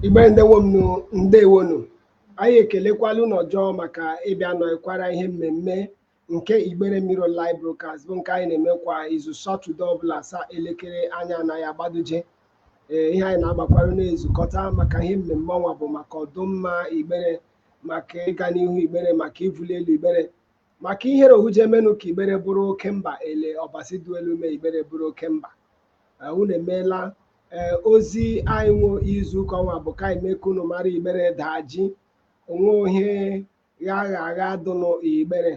igbere ndewonu ndewonu anyị ekelekwala unu ọjọ maka ịbịa nọkwara ihe mmemme nke igbere Mirror online broadcast bụ nke anyị na-eme kwa izu satọde ọbụla saa elekere anya anaghị agbaduje ee ihe anyị na-agbakwara na-ezukọta maka ihe mmemme ọnwa bụ maka ọdụmma igbere maka ịga n'ihu igbere maka ivuli elu igbere maka ihere ohuje emenụ ka igbere bụrụ oke mba ele ọbasi dụ elu mee igbere bụrụ oke mba unu emeela ee ozi anyị nwe izu ụka ọnwa bụ ka anyị mee ka unu mara igbere daa jii onwe ohe gha agha agha dụnụ igbere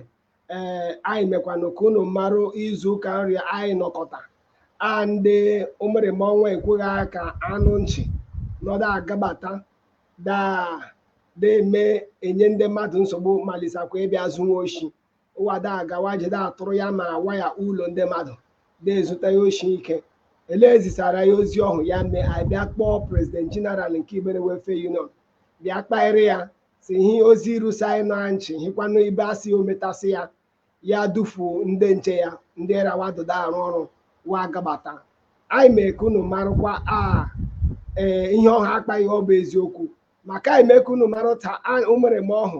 ee anyị mekwanụ ka unu marụ izu ụka nri anyị nọkọta a ndị ụmụrịma ọnwa ekweghị aka anụ nchị nọdụ agabata daa na-eme enye ndị mmadụ nsogbu malisakwa ịbịa zuwa oshi ụwa da agawaje da atụrụ ya ma awa ya ụlọ ndị mmadụ na-ezuta ya oshi ike ele ezisara ya ozi ọhụ ya mee anyị bịa kpọọ prezident jeneral nke Igbere Welfare Union bịa kpaịrị ya si hi ozi rusaị na nchị hikwanụ ibe asị o metasị ya ya dufu ndị nche ya ndị ra wa dụ da arụ ọrụ wa gabata anyị mee ka unu marụkwa a ee ihe ọha akpaghị ọ bụ eziokwu maka anyị mee ka unu marụ ta a- o mere m ọhụ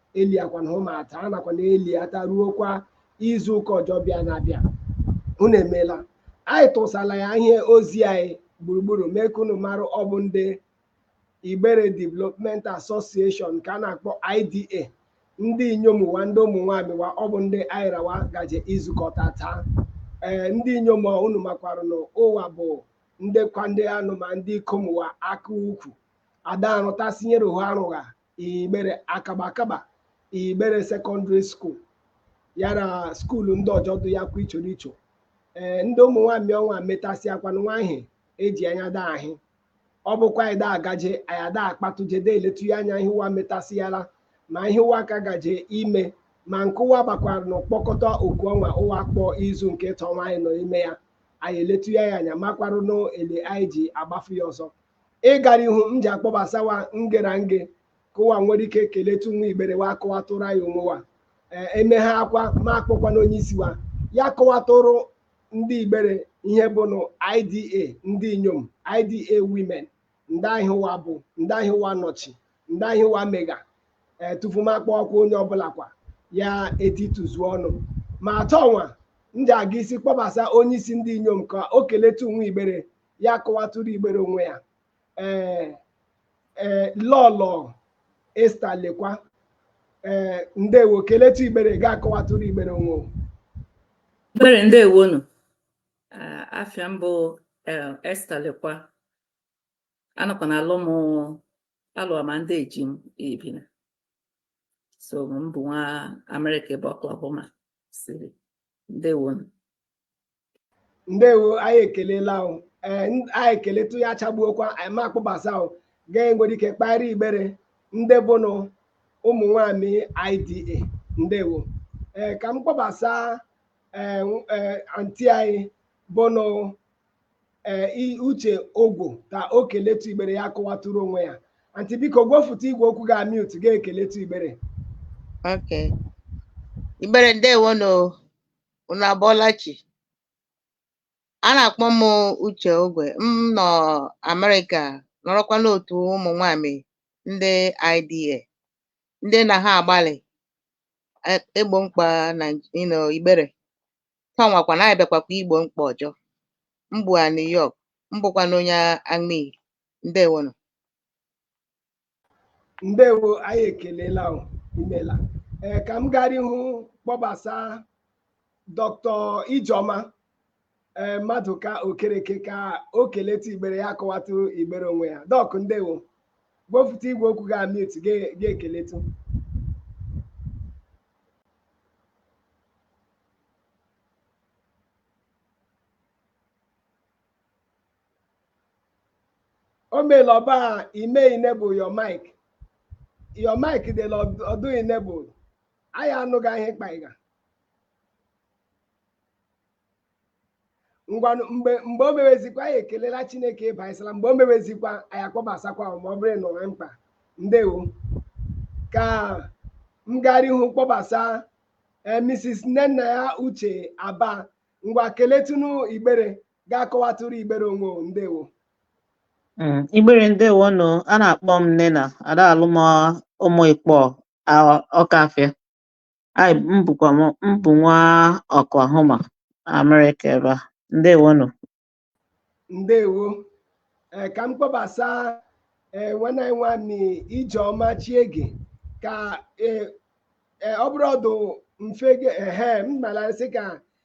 eliakwana ụmụata a nakwa na eliata ruokwa izu ụka ọjọ bịa na-abịa unu emeela anyị tụsala ya ihe ozi anyị gburugburu mee ka unu mara ọ bụ ndị Igbere Development Association ka a na-akpọ IDA ndị inyom ụwa ndị ụmụ nwaanyị wa ọ bụ ndị anyị ra wa gaje izukọta taa ee ndị inyom a unu makwarụ na ụwa bụ ndị kwa ndị anụ ma ndị ikom ụwa aka ukwu ada arụtasịnyere ha arụgha igbere akaba akaba igbere Secondary School ya na school ndị ọjọ dị ya kwa ichoro icho ee ndị ụmụ nwaanyị ọnwa metasịakwanụ nwa ihe e ji anya da ahị ọ bụkwa anyị da agaje anyị ada akpatụje da eletụ ya anya ihe ụwa metasịala ma ihe ụwa ka gaje ime ma nke ụwa gbakwara na ịkpọkọta oku ọnwa ụwa kpọọ izu nke ịtọ nwa anyị nọ ime ya anyị eletụ ya ya anya makwarụ n'ele anyị ji agbafu ya ọzọ ịgara ihu m ji akpọbasawa nge ra nge ka ụwa nwere ike keletu nwa igbere wa kọwatụrụ anyị onwe wa Ee, e mechaakwa m akpọkwanụ onye isi wa ya kọwatụrụ ndị igbere ihe bụ nụ IDA ndị inyom IDA women ndịa ihe ụwa bụ ndịa ihe ụwa nọchi ndịa ihe ụwa mega ee tupu m akpọwakwa onye ọbụla kwa ya etituzuo ọnụ ma atọ nwa m ji aga isi kpọbasa onye isi ndị inyom ka o keletu nwa igbere ya kọwatụrụ igbere onwe ya ee ee lọlọ Esther Lekwa ee ndewo keletu igbere ga-akọwatụrụ igbere onwe o. Igbere ndewo nụ Ah, afịa m bụ eh, Esther Lekwa anọkwa na alụ m alụ ama ndị eji m Ibina so m bụ nwa Amerịka ebe Oklahoma City ndewo nụ ndewo anyị ekelela ahụ ee n- anyị ekeletụ ya achagbuokwa anyị ma akpọbasa ahụ gaa nwere ike kparịa igbere ndị bụnụ ụmụ nwanyị IDA ndewo ee ka m kpọbasa ee nw- ee, anti anyị bụnụ ee i- uche ogwo ka o keletu igbere ya kọwatụrụ onwe ya anti biko gwefụta igwe okwu gị a mute ga ekeletu igbere Okay. Igbere ndewo nụ. Unu abọọla chi. A na-akpọ m Uche Ogwe. M nọ Amerịka nọrọkwa n'otu ụmụ nwanyị ndị IDA ndị na ha agbalị e- egbo mkpa na you know, igbere tanwakwa na anyị bịakwakwa igbo mkpa ọzọ m bụ a New York m bụkwa na onye Amaiyi ndewonụ ndewo anyị ekelela o, imela ee ka m gara ihu kpọbasa dọkịta ijeọma ee maduka okereke ka o keletụ igbere ya akọwatụ igbere onwe ya dọk ndewo wepụta igwe okwu gị a mute gị ekeletụ o meela ọ bụ ime enable your mic your mic dị na ọ dụ enable anyị anụghị ihe ị kpaga ngwa mgbe mgbe o mewezikwa anyị ekelela chineke ịba ịsala mgbe o mewezikwa anyị akpọbasakwa ahụ ma ọ bụrụ na o nwe mkpa ndewo ka m gara ihu kpọbasa ee mrs nnennaya uche aba ngwa keletunu igbere ga-akọwatụrụ igbere onwe o ndewo Mm, Igbere ndewo nụ a na-akpọ m Nena ada alụ m ụmụ Ikpọ a- Ọkafịa Anyị m bụkwa m m bụ nwa Oklahoma Amerịka ebe a ndewo nụ ndewo ee ka m kpọbasa ee nwanne anyị nwanne ijeọma chiege ka ee ee, ọ bụrụ ọ dụ mfe ge- ehe m nara sị ka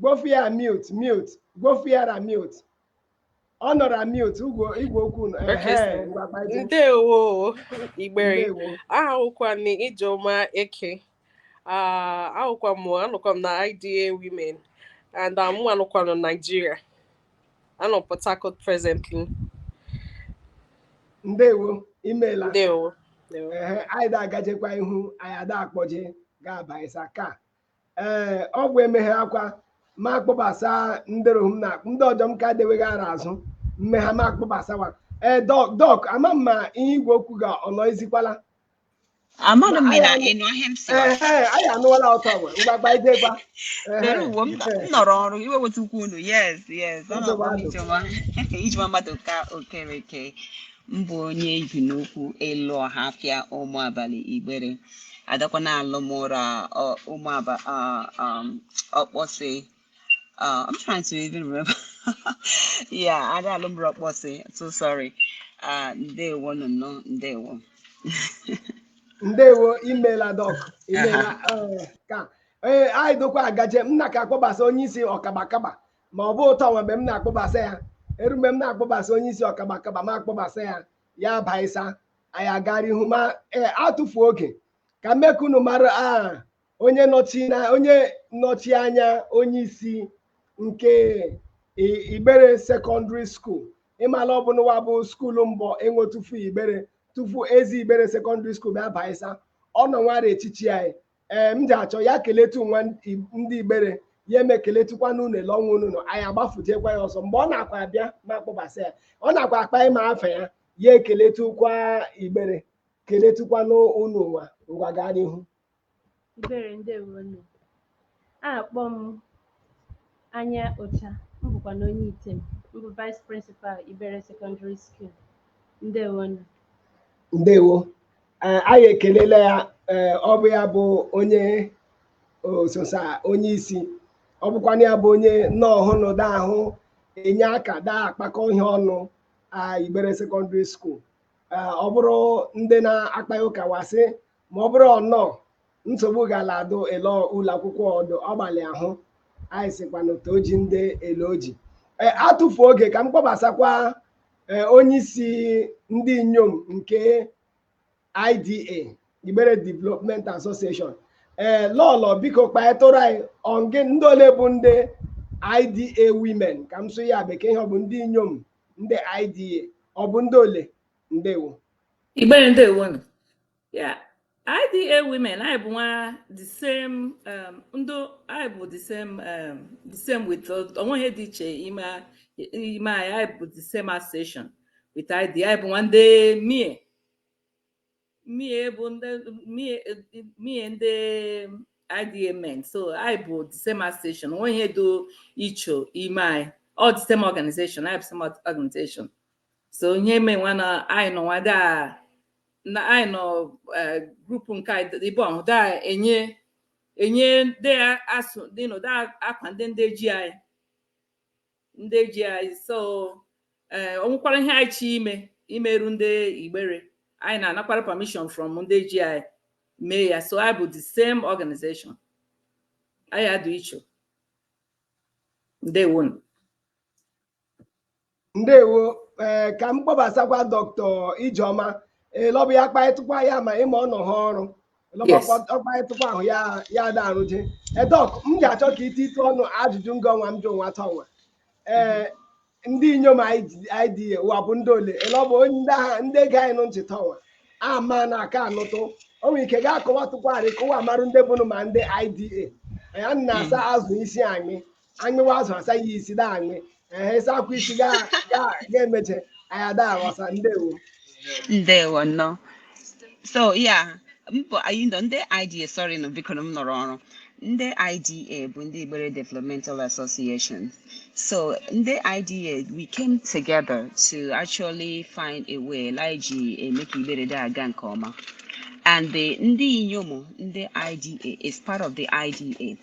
Gwofia mute mute gwofiara mute ọ nọ ra mute igwe igwe okwu nọ ehe ngwa gbaji ndewo Igbere ndewo abụkwa m Ijeoma Eke Ah, ahụkwa m anọkwa m na IDA women and ah, mụ anọkwa m na Nigeria anọ Port Harcourt presently ndewo imeela ndewo ndewo ehe anyị da-agajekwa ihu anyị ada akpọje ga-abaịsa ka ee ọgwụ emeghe akwa ma akpọbasa ndị rohum na ndị ọjọọ m ka deweghị ara azụ mmegha ma akpọbasawa ee dọk dọk ama m ma ihe igwe okwu ga ọ nọzikwala Amana m na ị nọ ihe m si ee ee anyị anụwala ọtọ ọgwa mgbagba idegwa Dere uwe m m nọrọ ọrụ iwe weta ukwu unu yes yes ọ Nsogbu na-akpọ m adị. ijewa ijewa mmadụ ka Okereke m bụ onye Ibinaukwu ịlụ Ọhafịa ụmụ abalị Igbere a dakwa na-alụ mụ ra ụmụ Ọkpọsị uh, I'm trying to even remember. yeah, a da alụ mụ ra Ọkpọsị so sorry uh, ndewo nọ nọ ndewo ndewo imela dọk imela uh, ka ee eh, anyị dakwa agaje m na ka akpọbasa onye isi ọkabakaba ma ọ bụ ụtọ nwa mgbe m na-akpọbasa ya eru mgbe m na-akpọbasa onye isi ọkaba akaba ma akpọbasa ya ya abaisa anyị aga r'ihu ma ee atụfu oge ka m mee ka unu mara a onye nọchi na onye nọchi anya onye isi nke I- Igbere Secondary School ị mala ọ bụ nwa bụ school mbụ e nwe tufu Igbere tufu ezi Igbere Secondary School bịa baisa ọ nọnwa ra echichi anyị ee m ji achọ ya keletu nwa ndị Igbere ya eme keletukwa unu ele ọnwa unu nọ anyị agbafujekwa ya ọzọ mgbe ọ na-akwa abịa ma akpọbasa ya ọ na-akwa akpa ịma afa ya ya ekeletukwa Igbere keletukwa unu ụnwa ngwa gaa n'ihu Igbere ndewonu. Akpọ m Anya Ocha, m bụkwa na onye Item m bụ Vice Principal Igbere Secondary School. Ndewonu. ndewo Ee, anyị ekelela ya ee, ọ bụ ya bụ onye ososa onye isi ọ bụkwana ya bụ onye nọ ọhụrụ da ahụ enye aka da akpakọ ihe ọnụ a Igbere Secondary School Ee, ọ bụrụ ndị na-akpa ya ụka wasị ma ọ bụrụ ọ nọ nsogbu gala adụ ele ụlọ akwụkwọ dụ ọgbalị ahụ anyị sịkwanụ toji ndị eloji ee atụfu oge ka m kpọbasakwa eh, onye isi ndị inyom nke IDA Igbere Development Association ee eh, lọlọ biko kpaetụrụ anyị ọngị ndị ole bụ ndị IDA women ka m sụọ ya Bekee ihe ọ bụ ndị inyom ndị IDA ọ bụ ndị ole ndewo Igbere ndewo Yeah, IDA women, anyị bụ nwa the same um, ndị anyị bụ the same um, the same with o nweghị ihe dị iche ime ime anyị anyị bụ the same association with IDA anyị bụ nwa ndị mie mie bụ ndị mie mie ndị IDA men so anyị bụ the same association o nweghị ihe dị iche ime anyị all the same organization anyị bụ same organization so ihe mee nwa na anyị nọ nwa daa na anyị nọ eh, group nke anyị ibe ọhụ da enye enye ndị asụ ndị nọ da akwa ndị ndị ji anyị ndị ji anyị so eh, o nwekwara ihe anyị chọ ime imeru ndị Igbere anyị na-anakwara permission from ndị ji anyị mee ya so anyị bụ the same organization anyị adụ icho ndewo nụ ndewo ee eh, ka m kpọbasakwa Doctor Ijeọma Elọbụ eh, ya kparịtụkwa ya ma ịma ọ nọ ha ọrụ ọkparịtụkwa ahụ ya ya da arụje edọk eh, m ga-achọ ka ite ite ọnụ ajụjụ nga ọnwa m jụ nwa ta ọnwa ee ndị inyom IDA ụwa bụ ndị ole elọbụ ndị agha ndị ge anyị nụ ntị ta ọnwa ama na aka anụtụ o nwere ike ga-akọwatụkwarị kụwa marụ ndị bụnụ ma ndị IDA ya na-asa hmm. azụ isi anyị anyụwa azụ asa ya isi da anyụ ehe ịsa akwa isi ga- ga- ga-emeche anyị ada aghọsa ndewo ndewo nnọọ so ya mbọ anyị nọ ndị IDA sorry nụ biko na m nọrọ ọrụ ndị IDA bụ ndị Igbere Developmental Association so ndị IDA we came together to actually find a way like ji eme ka Igbere da aga nke ọma and the ndị inyom ndị IDA is part of the IDA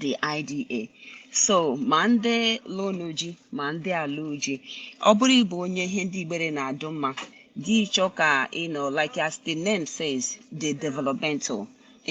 the IDA so ma ndị lụnụ ji ma ndị alụ ji ọ bụrụ ị bụ onye ihe ndị Igbere na-adụ mma gị chọọ ka you know like as the name says the developmental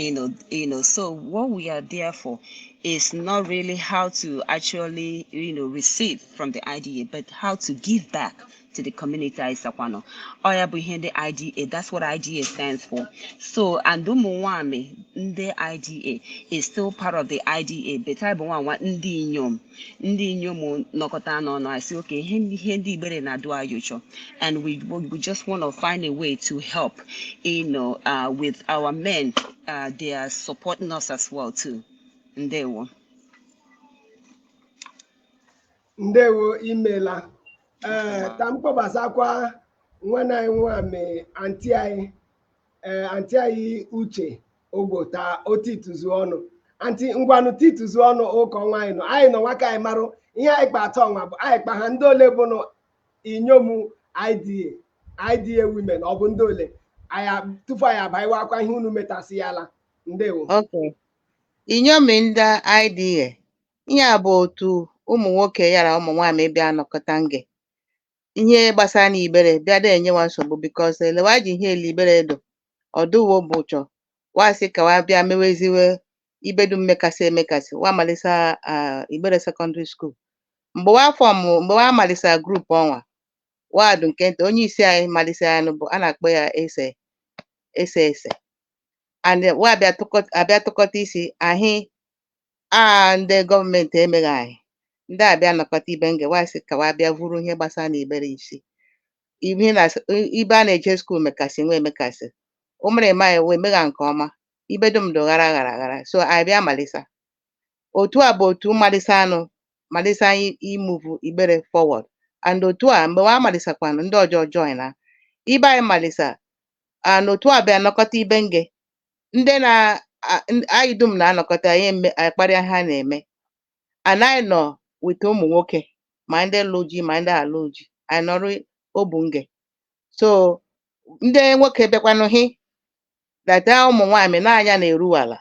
you know you know so what we are there for is not really how to actually you know receive from the IDA but how to give back to the community anyị sakwa nọ ọ ya bụ ihe ndị IDA that's what IDA stands for so and ụmụ nwanyị ndị IDA is still part of the IDA but anyị bụ nwa nwa ndị inyom ndị inyom nọkọta n'ọnụ anyị sị okay ihe ihe ndị Igbere na-adụ anyị ụchọ and we, we just want to find a way to help you know, uh, with our men uh, they are supporting us as well too ndewo ndewo imela ee ka m kpọbasakwa nwanne anyị nwami anti anyị ee anti anyị uche ogbo ta o tituzu ọnụ anti ngwanụ tituzu ọnụ ụka ọnwa anyị nọ anyị nọ nwa ka anyị marụ ihe anyị kpa atọ ọnwa bụ anyị kpa ha ndị ole bụ nụ inyom IDA IDA women ọ bụ ndị ole anyị a- tupu anyị abaiwakwa ihe unu metasịyala ndewo Okay. Inyom ndị IDA, ihe a bụ otu ụmụ nwoke yara ụmụ nwaanyị bịa nọkọta nge ihe gbasara na Igbere bịa da enyewa nsogbu because ele wa ji ihe ele Igbere dụ ọdụwo bụ ụchọ wa sị ka wa bịa meweziwe ibe dum mekasị emekasị wa malisa ah, Igbere sekọndịrị skuul mgbe wa form mgbe wa malisa group ọnwa wa dị nke nta onye isi anyị malisa ya nụ bụ a na-akpọ ya ese ese ese and wa bịa tụkọt- abịa tụkọta isi ahị a ndị gọọmenti emeghị anyị ndị a bịa nọkọta ibe nge wee sị ka wa bịa vuru ihe gbasara na Igbere isi ihe na ibe a na-eje skuul mekasị nwa emekasị o mere eme anyị wee megha nke ọma ibe dum dị ghara ghara ghara so anyị bịa malisa otu a bụ otu malisa nụ malisa anyị imuvu Igbere forward and otu a mgbe wa malisakwanụ ndị ọzọ join na ibe anyị malisa and otu a bịa nọkọta ibe nge ndị na a- n- anyị dum na-anọkọta anyị eme- anyị kparịa ha na-eme and anyị nọ with ụmụ nwoke ma ndị lụ ji ma ndị alụ ji anyị nọrọ obu nge so ndị nwoke bịakwanụ hị data ụmụ nwaanyị na anya na-eru ala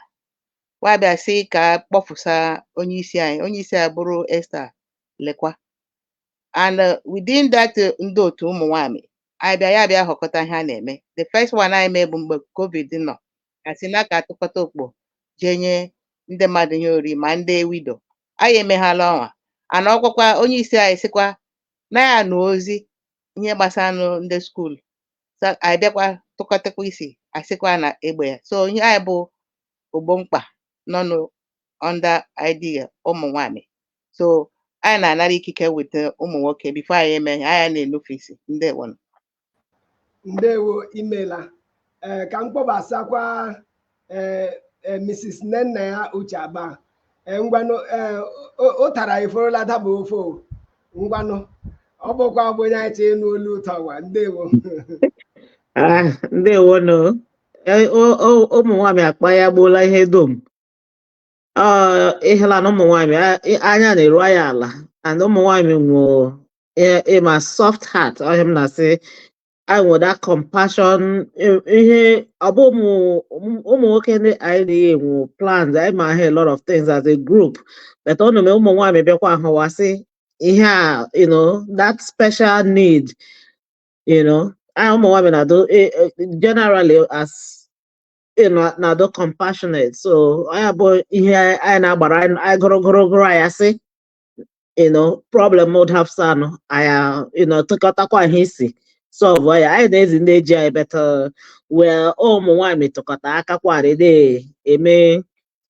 wa bịa sị ka kpọpụsa onye isi anyị onye isi anyị bụrụ Esther Lekwa and uh, within that uh, ndị otu ụmụ nwanyị anyị bịa ya bịa họkọta ihe a na-eme the first one anyị mee bụ mgbe covid nọ asị na ka a tụkọta okpo jee nye ndị mmadụ ihe ori ma ndị widow anyị emeghala ọnwa a nọkwakwa onye isi anyị sịkwa na ya nụ ozi ihe gbasara nụ ndị skuul so anyị bịakwa tụkọtakwa isi asịkwa na egbe ya so ihe anyị bụ ogbo mkpa nọ nụ under IDA ụmụ nwanyị so anyị na-anara ikike with eh, ụmụ nwoke before anyị eme ihe anyị na-enufe isi ndewo nụ. ndewo imela ee ka m kpọbasakwa ee ee, mrs nnennaya uche aba ee ngwanụ ee o- ụtara eforola daba ofe o. ngwanụ ọ bụkwa bụ onye anyị chee ịnụ olu ụtọ wa ndewo Ah, ndewonụ Eh, o- o- ụmụ nwaanyị akpa ya gbuola ihe dum Ah, ịhụla na ụmụ nwaanyị a- ị- anya na-eru anyị ala and ụmụ nwaanyị nwee ịma soft heart ọ ihe m na-asị anyị nwere that compassion i- ihe ọ bụ ụmụ ụmụ- ụmụ nwoke ndị anyị na-eyi enwe plans anyị ma ha a lot of things as a group but ọ na-eme ụmụ nwaanyị bịakwa ahụwasị ihe a you know that special need you know ụmụ nwaanyị eh, eh, generally as you know na-adị compassionate so ọ bụ ihe anyị na-agbara anyị gụrụ gụrụ gụrụ anyị asị you know problem would have son I uh, you know took out tụkọtakwa ihe isi sọlvụ ya anyị na-ezi ndị eji anyị but where ụmụ nwaanyị tụkọta aka kwarị na-eme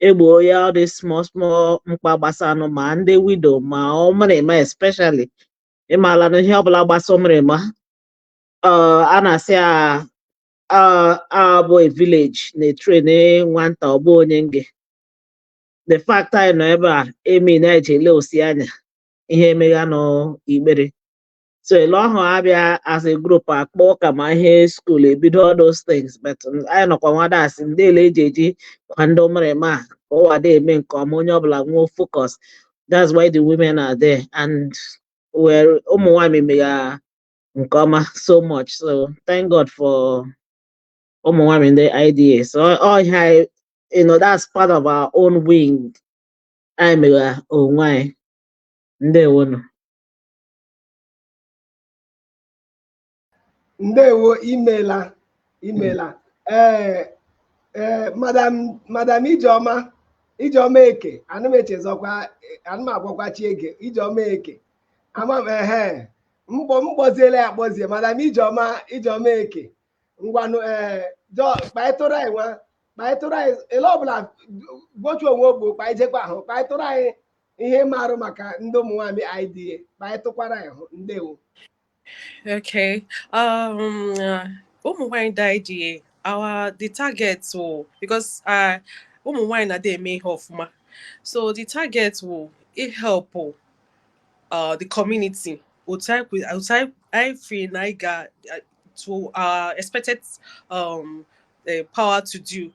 egbo ya ọ dị small small mkpa gbasanụ ma ndị widow ma ụmụrịma especially ị maala na ihe ọbụla gbasa ụmụrịma uh, a na-asị ya uh, abụ a village na-etren nwata ọ bụghị onye nge the fact anyị nọ ebe a eme na-eji ele osi anya ihe emegha n'Igbere so ele ahụ abịa as a group akpọ ụka ma ihe skuul ebido all those things but anyị nọkwa nwada asị ndị ele eji eji kwa ndị ụmụrịma a akwado eme nke ọma onye ọbụla nwee focus that's why the women are there and our ụmụ nwanyị mega nke ọma so much so thank God for ụmụ nwanyị ndị IDA so all ihe anyị you know that's part of our own wing anyị mega onwe anyị ndewonụ ndewo imela imela ee ee madam madam ijeọma ijeọma eke ana m echezọkwa ana m agwakwa chi ege ijeọma eke ama m ehe m kpọ m kpọziela ya akpọzie madam ijeọma ijeọma eke ngwanụ ee jọ kpaịtụrụ anyị nwa kpaịtụrụ anyị ele ọbụla gbochu onwe ogbo kpaijekwa ahụ kpaịtụrụ anyị ihe ị marụ maka ndị ụmụ nwaanyị IDA kpaịtụkwara anyị hụ ndewo Okay. Um, uh, ụmụ nwanyị IDA our the target wụ because uh, ụmụ nwanyị na-adị eme ihe ọfụma so the target wụ ị help uh, the community otu anyị feel na anyị ga uh, to our expected um, eh, power to do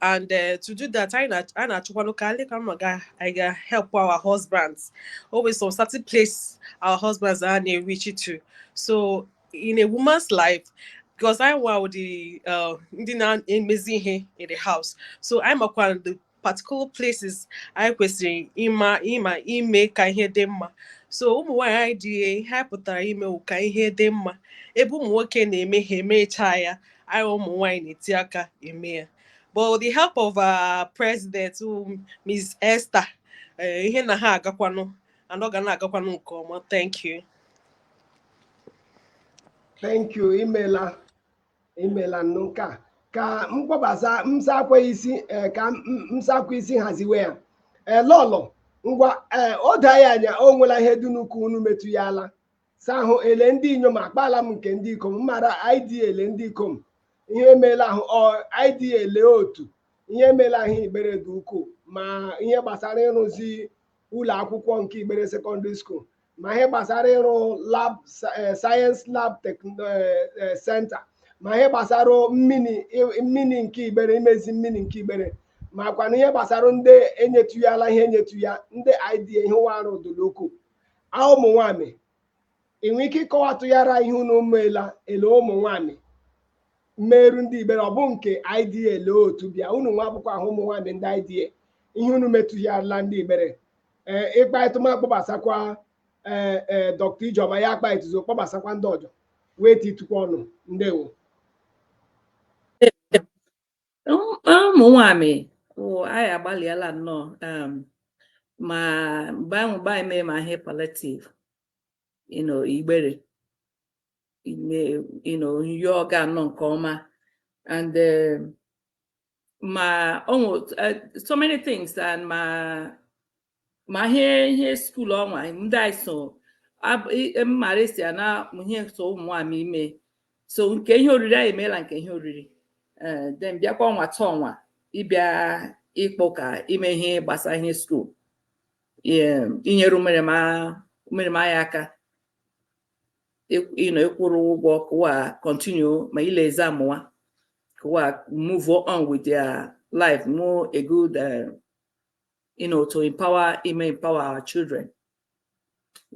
and uh, to do that anyị na-achọkwanụ ka anyị ka mma ga anyị ga help our husbands always some certain place our husbands anaghị e-reach to so in a woman's life because anyị wụ the uh, ndị na-emezi ihe in the house so ị makwa particular places anyị kwesịrị ịma ịma ime ka ihe dị mma so ụmụ nwaanyị IDA ihe anyị pụtara ime wụ ka ihe dị mma ebe ụmụ nwoke na-eme ha emechaa ya anyị ụmụ nwaanyị na-eti aka eme ya but with the help of our president um, Ms. Esther eh, ihe na-aga agakwanụ and ọ ga na-agakwanụ nke ọma thank you thank you imela imela nnụ nke a ka m kpọbasa msakwa isi ee, ka m- m- msakwa isi haziwe ya ee lọlọ ngwa ee o do anyị anya o nwela ihe dị ukwuu unu metụghala sa ahụ ele ndị inyom akpaala m nke ndị ikom m mara IDA ele ndị ikom ihe emeela ahụ IDA ele otu ihe emeela ahụ Igbere dị ukwuu ma ihe gbasara ịrụzi ụlọ akwụkwọ nke Igbere Secondary School ma ihe gbasara ịrụ lab eh, science lab eh, eh, center ma ihe gbasara mmiri nke Igbere imezi mmiri nke Igbere makwanụ ihe gbasara ndị enyetụghala ihe enyetu ya ndị IDA ihe wa arụ dụlụ ukwuu ụmụ nwamị ị nwere ike ịkọwatụghara ihe unu meela ele ụmụ nwamị meerụ ndị Igbere ọ bụ nke IDA ele otu bịa unu nwa abụkwọ ahụ ụmụ nwamị ndị IDA ihe unu metụgharịla ndị Igbere ee ị kpaịtụ m akpọbasakwa ee ee dọkta Ijeọma ya akpaịtụzo kpọbasakwa ndị ọjọ wee titukwa ọnụ ndewo Um, ụmụ nwamị wụ anyị agbalịala nnọọ um, ma mgbe ahụ mgbe anyị mee ma ihe palliative you know Igbere you know ihe gara nnọọ nke ọma and um, ma o nwe uh, so many things and ma ma ihe ihe school ọnwa ndị anyị so mmara esi ana ihe so ụmụ nwamị eme so nke ihe oriri anyị emeela nke ihe oriri eh, then bịakwa ọnwa taa ọnwa ịbịa ịkpọ ka ime ihe gbasara ihe school inyere ụmụrịma anyị aka you know ịkwụrụ ụgwọ kụ wa continue ma ile exam wa kụ wa move on with their life more a good uh, you know to empower ime empower our children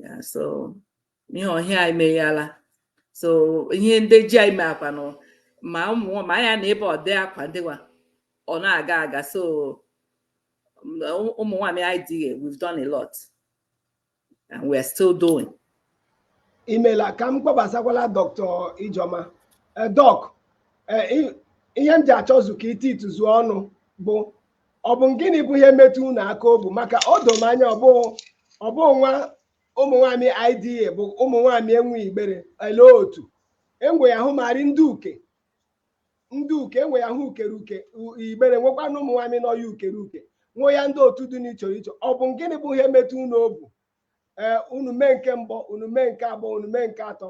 yeah so ihe ọhịa anyị meghela so ihe ndị ji anyị mee kwanụ ma ụmụ ma anya na ebe ọdị akwa dịwa ọ na-aga aga so ụmụ nwamị IDA we've done a lot and we are still doing imela ka m kpọbasakwala dọktọ Ijeọma dọk ihe m ji achọzu ka i tiituzu ọnụ bụ ọ bụ gịnị bụ ihe metụ unu aka obu maka o do m anya ọ bụ nwa ụmụ nwaanyị IDA bụ ụmụ nwaanyị enwe igbere ele otu enwe ya hụ marị ndị uke ndị uke enwe ya hụ ukere uke u- igbere nwekwa na ụmụ nwaanyị nọ ya ukere uke nwee ya ndị otu dị n'iche iche ọ bụ gịnị bụ ihe metụ unu obu ee unu mee nke mbụ unu mee nke abụọ unu mee nke atọ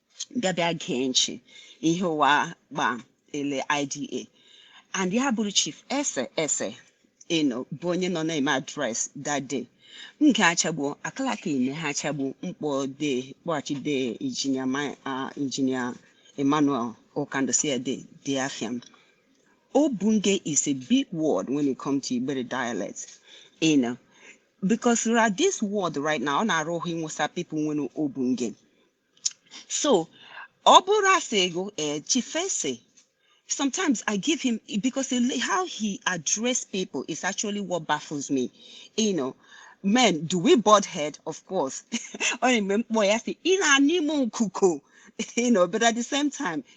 bịa bịa gee nchi ihe ụwa gba ele IDA and ya bụrụ chief ese ese ịnọ bụ onye nọ na-eme address that day m ga-achagbu akalaka ime ha achagbu mkpọ de kpọghachi de injinia ma- ah, injinia Emmanuel Okando si ede de afia m obu nge is a big word when it comes to Igbere dialect. You know, because right, this world right now, ọ na-ara ahụ Musa people nwere obu nge. so ọ bụrụ asị ego eh, chifese sometimes I give him because he, how he address people is actually what baffles me. You know, men, do we butt head? Of course. you know, but at the same time,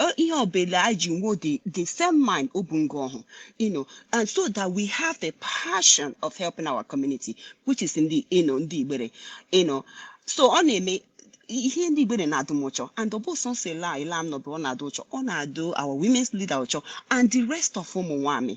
uh, ihe ọbụla anyị ji nwuo the, the same mind obu nge ọhụ you know and so that we have the passion of helping our community which is ndị you know ndị igbere you know so ọ na-eme ihe ndị igbere na-adụ m ụchọ and ọ bụ sọsọ ele a ele a m nọbụ ọ na-adụ ụchọ ọ na-adụ our women's leader ụchọ and the rest of ụmụ nwaanyị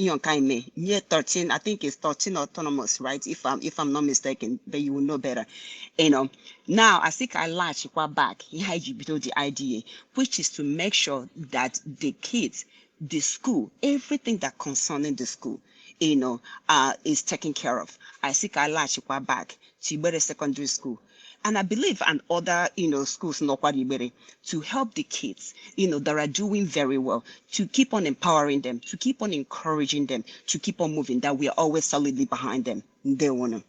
ihe nke anyị mee nye 13 I think it's 13 autonomous right if I'm if I'm not mistaken but you will know better you know now I think I latch kwa back ihe anyị ji bido the idea which is to make sure that the kids the school everything that concerning the school you know uh, is taken care of I think I latch kwa back to Igbere Secondary School and I believe and other you know schools nọkwa n'igbere to help the kids you know that are doing very well to keep on empowering them to keep on encouraging them to keep on moving that we are always solidly behind them ndewonu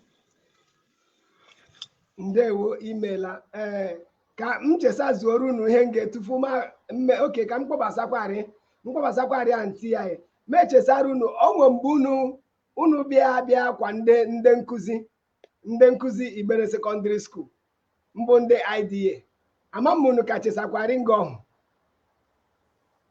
ndewo imela ee ka m chesazuoro unu ihe nge tufu ma m okay ka m kpọbasakwarị m kpọbasakwarị anti ya ya ma echesara unu o nwe mgbe unu unu bịa bịa kwa ndị ndị nkụzi ndị nkụzi Igbere Secondary School mbụ ndị IDA ama m unu ka chesakwarị nge ọhụ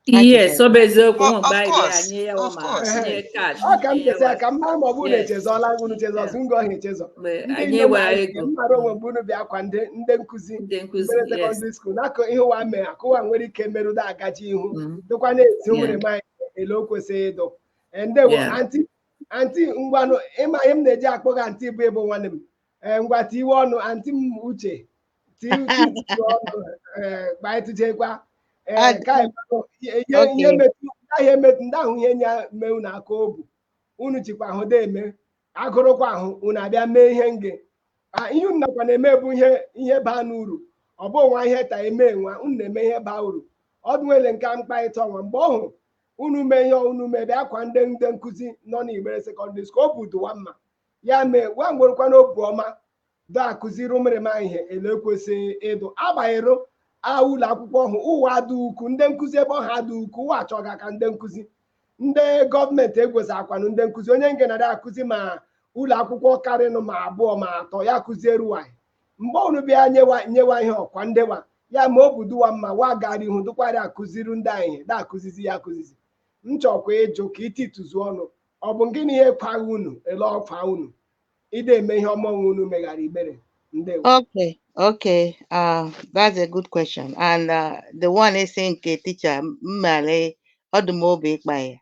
Yes, ọ bụ eziokwu Of- ụmụ of mgbe anyị course, anyị ya of ma course. tinye kash ọ ka m tinye chesa ya ka m mara ma ọ bụrụ na Yes. echezọla unu chezọs nge ọhụ echezọ mgbe ndị anyị nne m were anyị ego mara o nwe mgbe unu bịa kwa ndị ndị nkụzi ndị nkụzi Igbere yes Secondary School n'aka ihe ụwa mee aka ụwa nwere ike merụda agaji ihu Mm. dịkwa na-ezi Yeah. ụmụrịma anyị ele o kwesịrị ịdụ Eh, ndewo Yeah. anti anti ngwanụ ị ma ihe m na-eji akpọ gị anti bụ ị bụ nwanne m ee ngwa tiwe ọnụ anti m Uche anti Uche tiwe ọnụ ee kpaetụchekwa ee Ad- ka anyị mara ihe ihe Okay. metụ ndị ahụ emetụ ndị ahụ ihe nya mee unu aka obu unu chikwa ahụ da eme agụrụkwa ahụ unu abịa mee ihe nge Ah, ihe unu nakwa na-eme bụ ihe ihe baanụ uru ọ bụ nwa ihe ta eme nwa unu na-eme ihe baa uru ọ dụ nwa ele nke a m kparịta ọnwa mgbe ọhụ unu mee ihe unu mee bịa kwa ndị ndị nkụzi nọ n'Igbere Secondary School obu dụ ụwa mma ya mee ụwa nwerụkwanụ obu ọma da akụziri ụmụrịma ihe ele o kwesịrị ịdụ agbanyeghị na ụlọ akwụkwọ ọhụ ụwa adị ukwu ndị nkụzi ebe ọhụ adị ukwu ụwa achọga aka ndị nkụzi ndị gọọmenti egwezi akwanụ ndị nkụzi onye nge na-adị akụzi ma ụlọ akwụkwọ karịnụ ma abụọ ma atọ ya akụziere ụwa mgbe unu bịa nyewa nyewa ihe ọkwa ndewa ya ma obu dụ wa mma wa gara ihu dụkwara akụziri ndị anyị ihe na-akụzizi ya akụzizi m chọkwa ịjụ ka itituzu ọnụ ọ bụ gịnị ihe kwagha unu ele kwa unu ide eme ihe ọma ọhụ unu meghara igbere ndewo Okay, okay. Uh, that's a good question. And uh, the one ị sị nke teacher, m ma la ọ dụ m obi ịkpa ya.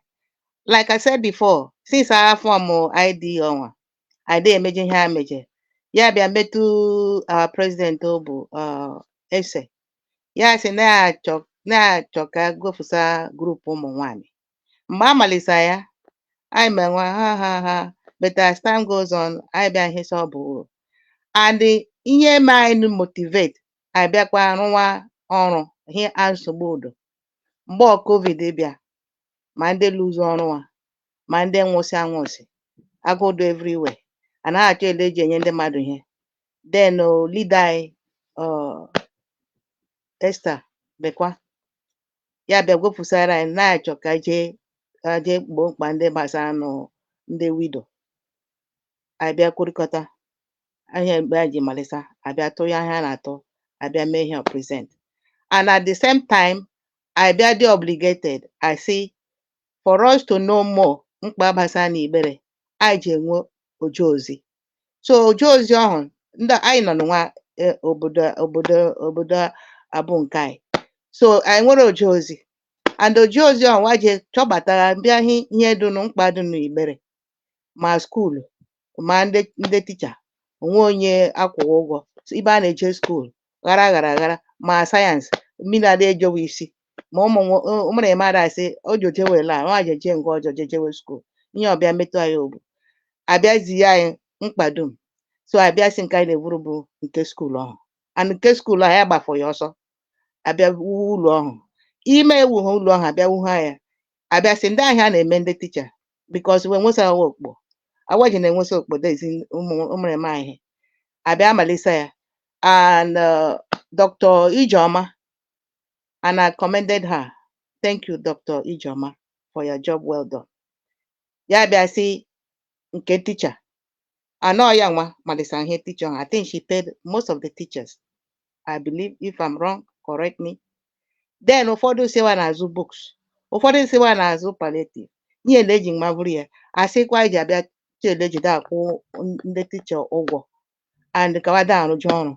Like I said before, since I have form ID ọnwa, anyị dịghị emeje ihe a meje ya bịa metụ our president ọ bụ uh, Esther ya sị na-achọ na-achọ ka gofusa group ụmụ nwanyị mgbe a malisa ya anyị menwa ha ha ha but as time goes on anyị bịa ihe sị ọ bụ uru and ihe mee anyị motivate anyị bịakwa rụwa ọrụ ihe a nsogbu dụ mgbe ọhụ covid bịa ma ndị lose ọrụ wa ma ndị nwụsị anwụsị agụụ dị everywhere a na-achọ ele eji enye ndị mmadụ ihe then o leader anyị uh, Esther Ibekwe ya bịa gwofusara anyị na-achọ ka jee ka jee gboo mkpa ndị gbasara nụ ndị widow anyị bịa kwurịkọta ahịa mgbe anyị ji malisa a bịa tụ ya ihe a na-atụ a bịa mee ihe present and at the same time a bịa dị obligated a sị for us to know more mkpa gbasara na igbere anyị ji enwe oje ozi so oje ozi ọhụ ndị anyị nọ n'nwa eh, obodo obodo obodo abụ nke anyị so anyị nwere oje ozi and oje ozi ọhụ wa je chọbatara bịa hi- ihe dụ nụ mkpa dụ nụ igbere ma skuulu ma ndị ndị ticha o nwe onye akwụ wa ụgwọ ibe a na-eje skuul ghara ghara ghara ma sayensị mmiri ada ejowe isi ma ụmụ nwo- ụ- ụmụ na-eme ada asị ojo jewe la nwa jeje nke ọjọ jejewe skuul ihe ọbịa metụ anyị obu a bịa zie anyị mkpa dum so a bịa sị nke anyị na-eburu bụ nke skuul ọhụ and nke skuul ahụ ya gbafọ ya ọsọ a bịa wuwe ụlọ ọhụ ime ewu ha ụlọ ọhụ a bịa wuha ya a bịa sị ndị ihe a na-eme ndị ticha because wa enwesa wa okpo wa ji na-enwesa okpo de ezi ụmụrịma ihe a bịa malisa ya and uh, dr ijeoma and i commended her thank you dr ijeoma for your job well done ya bịa sị nke ticha a na ọ ya nwa malisa ihe ticha ha i think she paid most of the teachers I believe if I'm wrong correct me then ụfọdụ sị wa na-azụ books ụfọdụ sị wa na-azụ palliative ihe na eji mma bụrụ ya a sịkwa iji a bịa chee ele eji da akwụ n- ndị ticha ụgwọ and ka wa da arụje ọrụ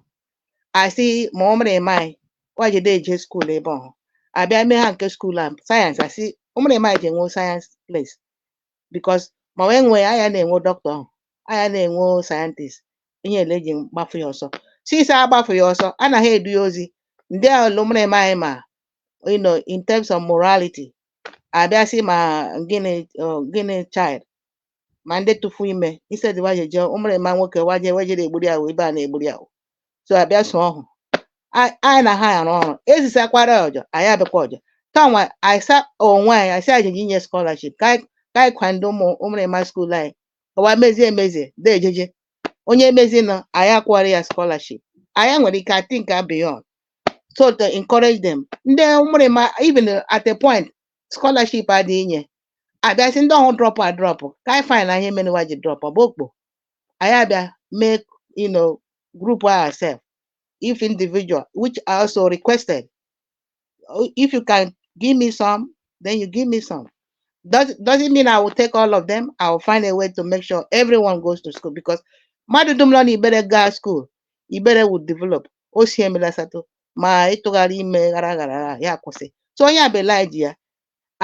a sị ma ụmụrịma anyị wa jide eje skuul ebe ọhụ a bịa mee ha nke skuul a sayensị a sị ụmụrịma anyị ji enwe sayensị place because ma wee nwee ya aya na-enwe doctor ahụ aya na-enwe scientist ihe ele eji gbafu ya ọsọ sisi agbafu ya ọsọ anaghị edu ya ozi ndị ahụ lụmara eme anyị ma you know in terms of morality abịa sị ma gịnị uh, girl child ma ndị tụfu ime instead wa jeje ụmụrịma nwoke wa je wejere egburu ya wee ibe a na-egburu ya so abịa so ọhụ A- anyị na ha arụ ọrụ ezisakwara ọjọ anyị abịakwa ọjọ kanwa anyị sa onwe anyị anyị si anyị jeje inye scholarship ka anyị ka anyị kwando ụmụ ụmụrịma school anyị ọwa mezie emezie da ejeje onye emezi nọ anyị akwụgharị ya scholarship anyị nwere ike think beyond so to encourage them ndị ụmụrịma even at a point scholarship adịghị inye abịa sị ndị ọhụụ drop adrop ka anyị find out ihe mere wa ji drop ọ bụ okpo anyị abịa mee you know group ourselves if individual which I also requested oh, if you can give me some then you give me some does doesn't mean I will take all of them I will find a way to make sure everyone goes to school because mmadụ dum nọ n'Ibere gaa school Ibere would develop o si emela asatọ ma ịtụgharị ime aghara aghara ya kwụsị so onye abela ji ya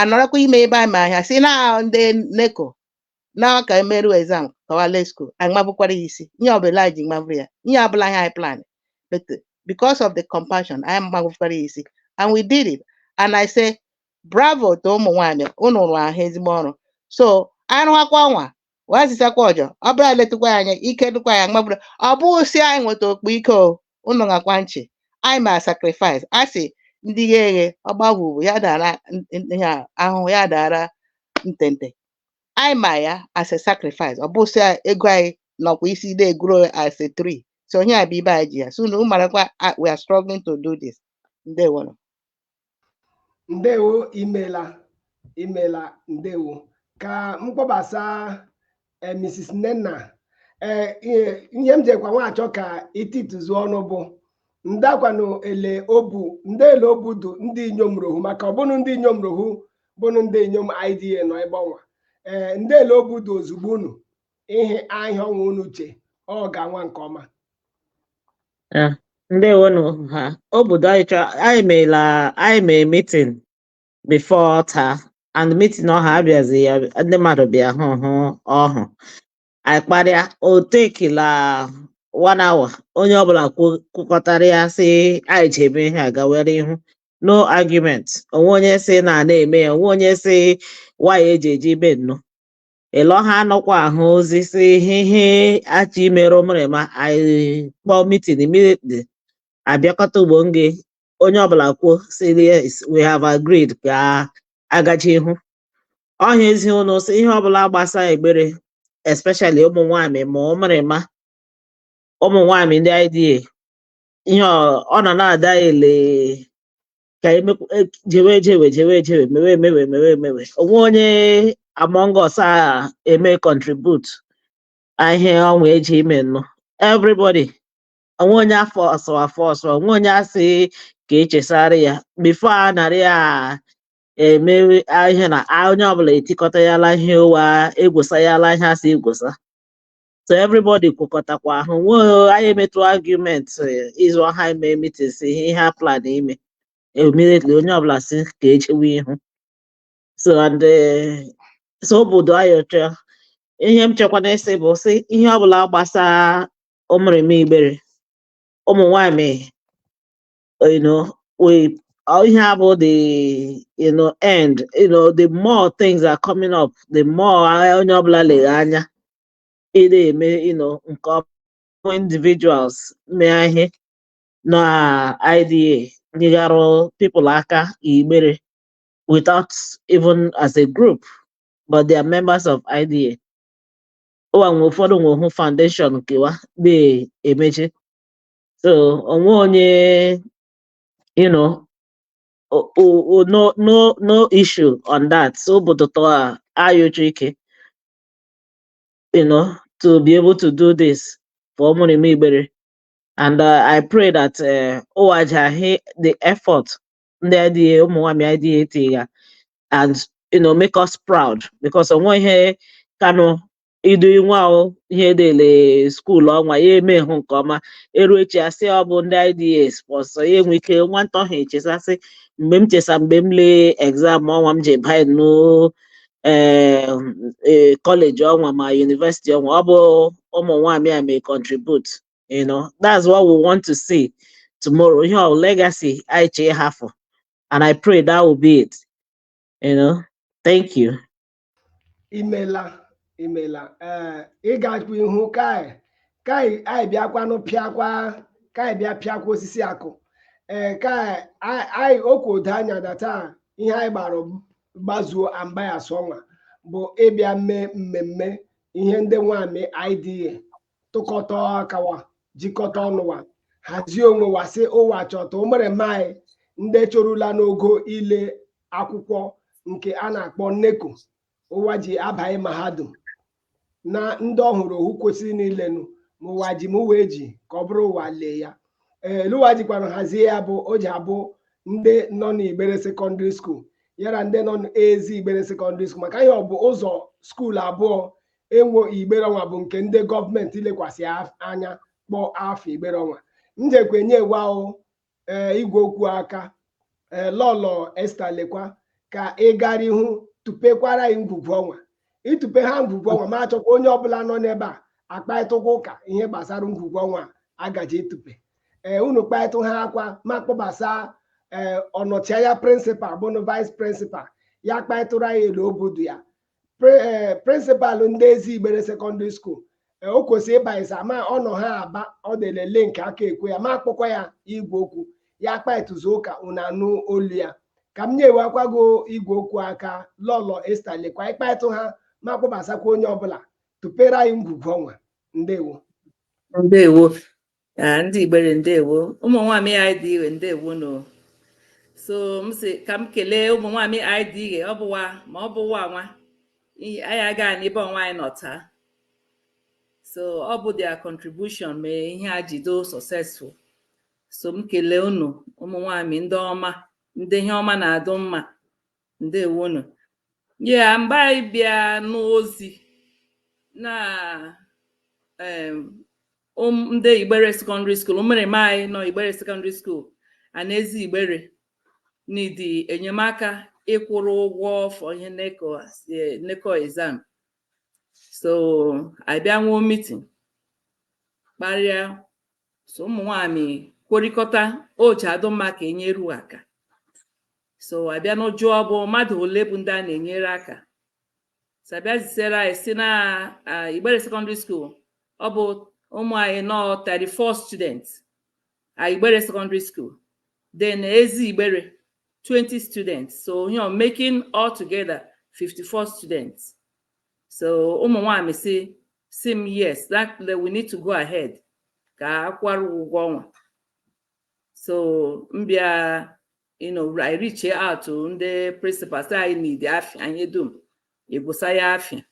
anọrọkwa ime ebe a ma ahịa si na ndị NECO now ka emeruo exam ka wa lee school anyị mabukwara ya isi ihe ọbụla anyị ji mabụrụ ya ihe abụla ihe anyị plan but because of the compassion anyị mabukwara ya isi and we did it and I say bravo to ụmụ nwaanyị unu rụrụ ahụ ezigbo ọrụ so anyị rụwakwa ọnwa wee zisakwa ọjọ ọ bụla letukwa ya anya ike dịkwa ya mabụrụ ọ bụghị si anyị nweta okpo ike o unu gekwa nchị anyị ma sacrifice a sị ndị ghe eghe ọgbagwụ bụ ya dara n- n- ihe a, ahụhụ ya dara ntente anyị ma ya as a sacrifice ọ bụ sị ya ego anyị nọkwa isi na-eguro as a tree so onye a bụ ibe anyị ji ya so unu marakwa ah, we are struggling to do this ndewonụ ndewo imela imela ndewo ka m kpọbasa eh, Mrs Nnenna eh, ihe ihe m jekwa nwachọ ka itituzu ọnụ bụ ndakwanụ ele obu ndị ele obu dụ ndị inyom rụ ọhụ maka ọ bụ unu ndị inyom rụ ọhụ bụ unu ndị inyom IDA nọ ebe ọnwa ee ndị ele obudo ozugbo unu ihe ahịa ọnwa unu che ọ ga-anwa nke ọma ndewonụ ha obodo anyị chọrọ anyị meela anyị mee meeting before taa and meeting ọha abịazi ya ndị mmadụ bịa hụ hụ ọhụ anyị kparịa o take-ila one hour onye ọbụla kwu- kwukọtara ya sị anyị ji eme ihe a gawere ihu no argument o nwe onye sị na a na-eme ya o nwe onye sị wa ya eji eji ibe nnụ ịlọ ha anọkwa ahụ ozi sị ihe ihe a chọ imere ụmụrịma anyị kpọọ meeting immediately abịakọta ugbo nge onye ọbụla kwuo sị yes we have agreed ka a gachi ihu ọhịa ezi ụnụ sị ihe ọbụla gbasa Igbere especially ụmụ nwaanyị ma ụmụrịma ụmụ nwaanyị ndị IDA ihe ọ ọ nọ na-ada ele ka emekwu- e- jewe ejewe jewe ejewe mewe emewe mewe emewe onwe onye among us a eme contribute ihe ọnwa eji ime nnụ everybody onwe onye a force a force onwe onye asị ka echesara ya before a narị a emewe a- ihe na a- onye ọbụla etikọta ya la ihe ụwa egwosa ya la ihe asị egwosa so everybody kwekọtakwa ahụ nwee anyị emetụ argument eh, ịzụ ọha ime meeting si ihe ihe a plan ime immediately onye ọbụla si ka ejewe ihu so and eh, so obi dị anyị ọcha ihe m chekwa n'isi bụ sị ihe ọbụla gbasara ụmụrịma Igbere ụmụ nwaanyị you know we all you have all the you know end you know the more things are coming up the more onye ọbụla lere anya ị na-eme you know nke ọma individuals mee ihe na IDA nyegharụ people aka Igbere without even as a group but they are members of IDA ụwa nwe ụfọdụ nwe hụ foundation nke wa na-emechi so onwe onye you know o- o- o- no no no issue on that so obi da-atọ anyị ụtọ ike you know to be able to do this for ụmụrịma Igbere and uh, i pray that uh, ụwa ja-ahụ the effort ndị IDA ụmụ nwanyị IDA etiga and you know make us proud because onweghị ihe ka nụ idu nwa ahụ ihe dele school ọnwa ya eme hụ nke ọma eru echi asị ọ bụ ndị IDA sponsor ya enwe ike nwata ahụ echesa sị mgbe m chesa mgbe m lee exam ọnwa m ji banye n'o ee ee college ọnwa ma university ọnwa ọ bụ ụmụ nwaanyị a me contribute you know that's what we want to see tomorrow ihe ọ legacy anyị chọ ịhafụ and I pray that will be it you know thank you imela imela ee ị gakwa ihu ka ka anyị bịakwanụ pịakwa ka anyị bịa pịakwa osisi akụ ee ka a- anyị okwu odo anya na taa ihe anyị gbara gbazuo a mgbe anyasị ọnwa bụ ịbịa mee mmemme ihe ndị nwamị IDA tụkọta aka wa jikọta ọnụ wa hazie onwe wa sị ụwa chọta ụmụrịma anyị ndị chorula n'ogo ile akwụkwọ nke a na-akpọ neko ụwa ji abaghị mahadum na ndị ọhụrụ ohu kwesịrị niile nụ ma ụwa ji ma ụwa eji ka ọ bụrụ ụwa lee ya ele ụwa jikwanụ hazie ya bụ o ji abụ ndị nọ n'igbere sekọndịrị skuul yara ndị nọ n'ezi igbere sekọndịrị skuul maka ihe ọ bụ ụzọ skuul abụọ enwo igbere ọnwa bụ nke ndị gọọmenti lekwasị af- anya kpọọ afọ igbere ọnwa njekwa enyewa ee igwe okwu aka ee lọlọ esta lekwa ka ị gara ihu tụpekwara anyị ngwugwu ọnwa ịtụpe ha ngwugwu ọnwa ma achọkwa onye ọbụla nọ n'ebe a akparịtakwa ụka ihe gbasara ngwugwu ọnwa a gaje ịtụpe ee unu kparịtụ ha akwa ma kpọbasa ee ọnọchianya prịnsịpal bụnụ vais prịnsịpal ya kparịtụrụ anyị ele obi dụ ya eh, prịnsịpalụ ndị ezi igbere sekọndịrị skuul eh, o kwesịrị ịba ịsa ma ọ nọ ha aba ọ dị ele link aka ekwe ya ma akpọkwa ya igwe okwu ya akparịtụzi ụka unu anụ olu ya ka m nyewakwa gị igwe okwu aka lọlọ esta lekwa ịkparịtụ ha ma kpọbasakwa onye ọbụla tụpere anyị ngwugwu ọnwa ndewo ndewo ndị igbere ndewo ụmụ nwaanyị anyị dị iwe ndewo nụ so m si ka m kelee ụmụ nwaanyị anyị dị ihe ọ bụ wa ma ọ bụ wa nwa anyị aga n'ebe ọnwa anyị nọ taa so ọ bụ their contribution mee ihe a ji dụ successful so m kelee unu ụmụ nwaanyị ndị ọma ndị ihe ọma na-adụ mma Ndewo nụ. Yeah, mgbe anyị bịa nụ ozi na em, ụm ndị Igbere Secondary School, ụmụrịma anyị nọ Igbere Secondary School, yana Ezi Igbere need enyemaka ịkwụrụ ụgwọ for ihe NECO as- eh, NECO exam. So, anyị bịa nwee meeting kparịa so ụmụ nwaanyị kwurikọta o ji adụ mma ka enyere wa aka so abịa m jụọ ọ bụ mmadụ ole bụ ndị a na-enyere aka so abịa zisere anyị si na ah, Igbere secondary school ọ bụ ụmụ anyị nọ 34 students at Igbere secondary school then Ezi Igbere 20 students so you know making all together 54 students so ụmụ nwaanyị si si m yes that we need to go ahead ka akwụrụ ụgwọ ọnwa so m bịa you know I reach out to ndị principals anyị need afịa anyị dum egwusa ya afịa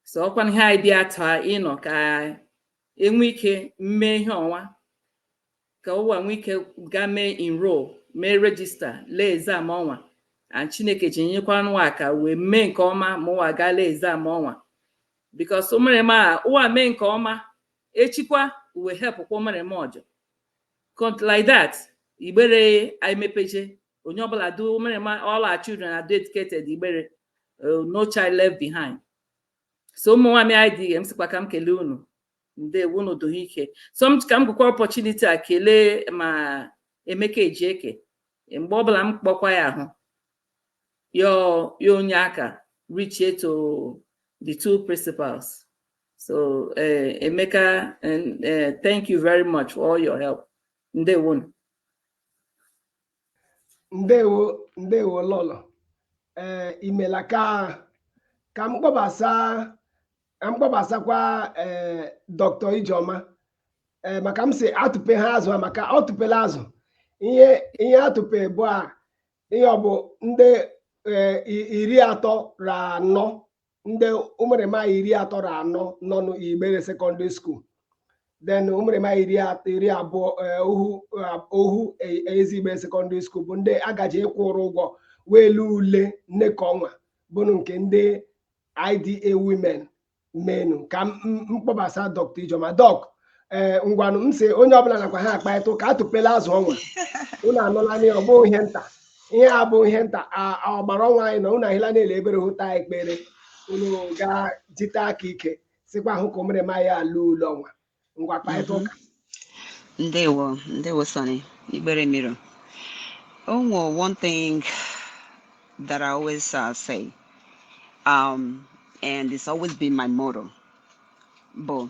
so ọkwa ihe anyị bịa taa you know ka enwe ike mee ihe ọnwa ka ụwa nwee ike gaa mee enroll mee register lee exam ọnwa and chineke ji nyekwa ụwa aka wee mee nke ọma ma ụwa gaa lee exam ọnwa because ụmụrịma a ụwa mee nke ọma echikwa uwe hepụkwa ụmụrịma ọjọ Cont- like that igbere anyị mepeje onye ọbụla do ụmụrịma all our children are educated igbere uh, no child left behind so ụmụ nwanyị IDA m sịkwa ka m kelee unu ndewo unu dohe ike so m ka m gụkwa opportunity a kelee ma emeka ejieke mgbe ọbụla m kpọkwa ya ahụ ya ya ọ nye aka reachie to the two principals so eh, emeka eh, eh, thank you very much for all your help ndewo unu ndewo ndewo lọlọ ee imela ka ka m kpọbasa ka m kpọbasakwa ee Dr. Ijoma ee maka m si atụpe ha azụ a maka ọ tụpela azụ ihe ihe atụpe bụ a ihe ọ bụ ndị ee, i- iri atọ ra anọ ndị ụmụrịma iri atọ ra anọ nọ n'igbere secondary school then ụmụrịma iri at- iri abụọ eh, ohu eh, ohu e- ezi igbere secondary school bụ ndị agaji ịkwụrụ ụgwọ wee lee ule NECO ọnwa bụnụ nke ndị IDA women menu ka m m- m kpọbasa Dr. Ijoma Dọk ee ngwanụ m si onye ọbụla nakwa ha akparịta ụka atụpela azụ ọnwa unu anụla na ọ bụghị ihe nta ihe a bụ ihe nta a- a ọgbara ọnwa anyị na unu ahịla na-ele ebere hụta ekpere unu gaa jite aka ike sikwa hụ ka ụmụrịma a lee ule ọnwa ngwa kparịta ụka Ndewo, ndewo Sonny, Igbere Miro. O nwe one thing that I always uh, say, um, and it's always been my motto, bụ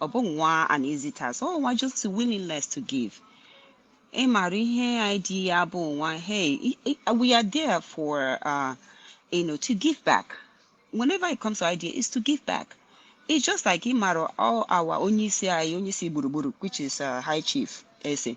ọ bụ nwa Anizitas ọ nwa just willingness to give ị maara ihe IDA bụ nwa hey we are there for uh, you know to give back whenever it comes to IDA is to give back it's just like ị maara all our onye isi anyị onye isi gburugburu which is uh, high chief ese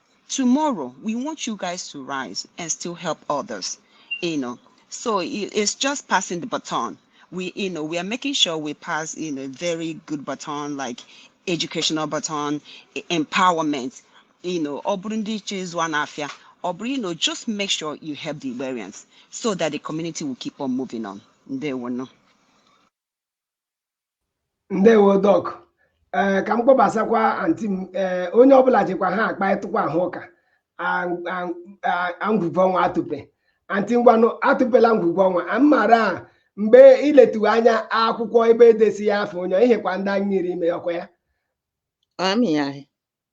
tomorrow we want you guys to rise and still help others you know so it's just passing the baton we you know we are making sure we pass you know very good baton like educational baton e- empowerment you know ọ bụrụ ndị iche ịzụ a na-afịa ọ bụrụ you know just make sure you help the Igberians so that the community will keep on moving on ndewonu ndewo dọk ee eh, ka m kpọbasakwa anti m ee eh, onye ọbụla jikwa ha akparịtakwa ahụ ụka ngwugwu ọnwa atụpe anti ngwanụ atụpela ngwugwu ọnwa a mara mgbe iletu anya akwụkwọ ebe edesi ya afọ onye ihekwa ndị anyị nyere ime ọkwa ya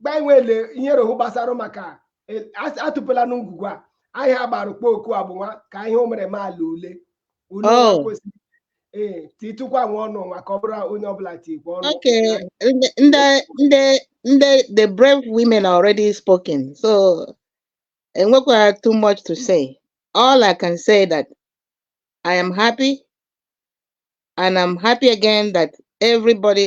gbainwele ihe rohu gbasara maka e, atụpụla ngwugwu a anyị gbara kpo oku agbụnwa ka ihe ụmụrịma ala ule ule oh. kwesịrị ee titụkwa nwa ọnụ nwa ka ọ bụrụ onye ọbụla tikwa ọnụ okay ndị ndị ndị the brave women have already spoken so enwekwaha too much to say all i can say that i am happy and i'm happy again that everybody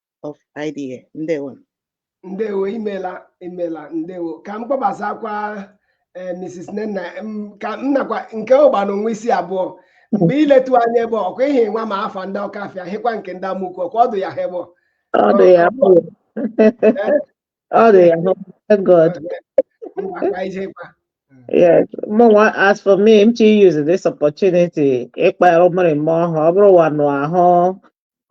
of IDA ndewo ndewo imela imela ndewo ka m kpọbasakwa eh, Mrs. Nnenna ka m nakwa nke ụgba na o nwe isi abụọ mgbe iletu anya ebe ọkwa ihe nwa ma afa ndị ọka afịa hịkwa nke ndị amụkwu ọkwa ọdụ ya ha ebe ọ dị ya ọ dị ya God Yes, mụwa, as for me, m chọ iuse this opportunity. Ịkpọrọ ụmụrịma ọhụ, ọ bụrụ wa nọ ahụ,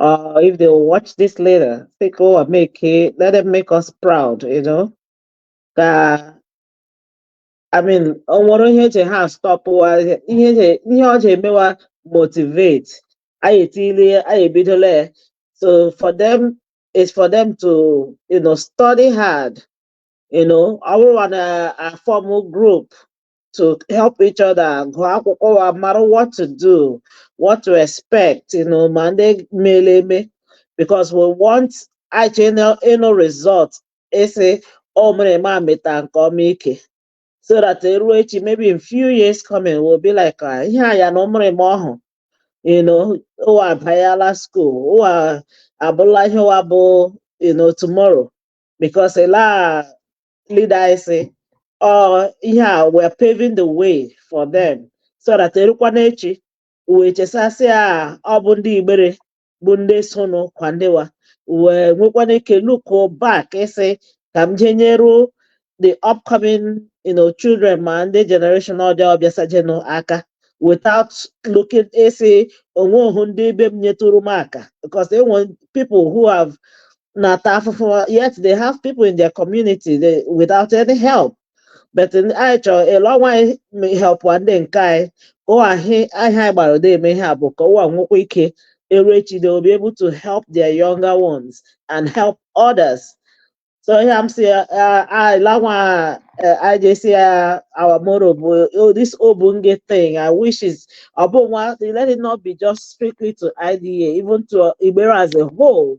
Uh, if they will watch this later, sị ka ụwa make, let them make us proud, you know. Uh, I mean, o nwerọ ihe je-astop wa ihe ọ je-emewa motivate anyị etile anyị ebidola ya so for them is for them to you know study hard you know ọ bụrụ na-aform group to help each other gụọ akwụkwọ wa mara what to do what to expect you know ma ndị meela eme because we want anyị chọ ịnụ result ịsị ụmụrịma meta nke ọma ike so that eruo echi maybe in few years coming we'll be like ah, ihe a ya na ụmụrịma ọhụ you know ụwa abanyela school ụwa abụla ihe ụwa bụ you know tomorrow because they are leaders oh yeah we're paving the way for them so that erukwa n'echi wee chesa sị a ọ bụ ndị Igbere bụ ndị sonụ kwandewa wee nwekwa ike look back ịsị ka m jee nyere the upcoming you know, children ma ndị generation ọ dị ọbịasajenụ aka without looking ịsị o nwehu ndị be m nyetụrụ m aka because e nwe people who have na-ata afụfụ yet they have people in their community they, without any help but anyị chọrọ ịlụ ọnwa anyị help ndị nke anyị ka ụwa ahịa anyị gbara ụdị eme ihe a bụ ka ụwa nwekwa ike eru echi they will be able to help their younger ones and help others so ihe m si ịlanwa anyị jesi ya our moro bụ oh, this obunge thing i wish is ọ bụ nwa let it not be just strictly to IDA even to Igbere as a whole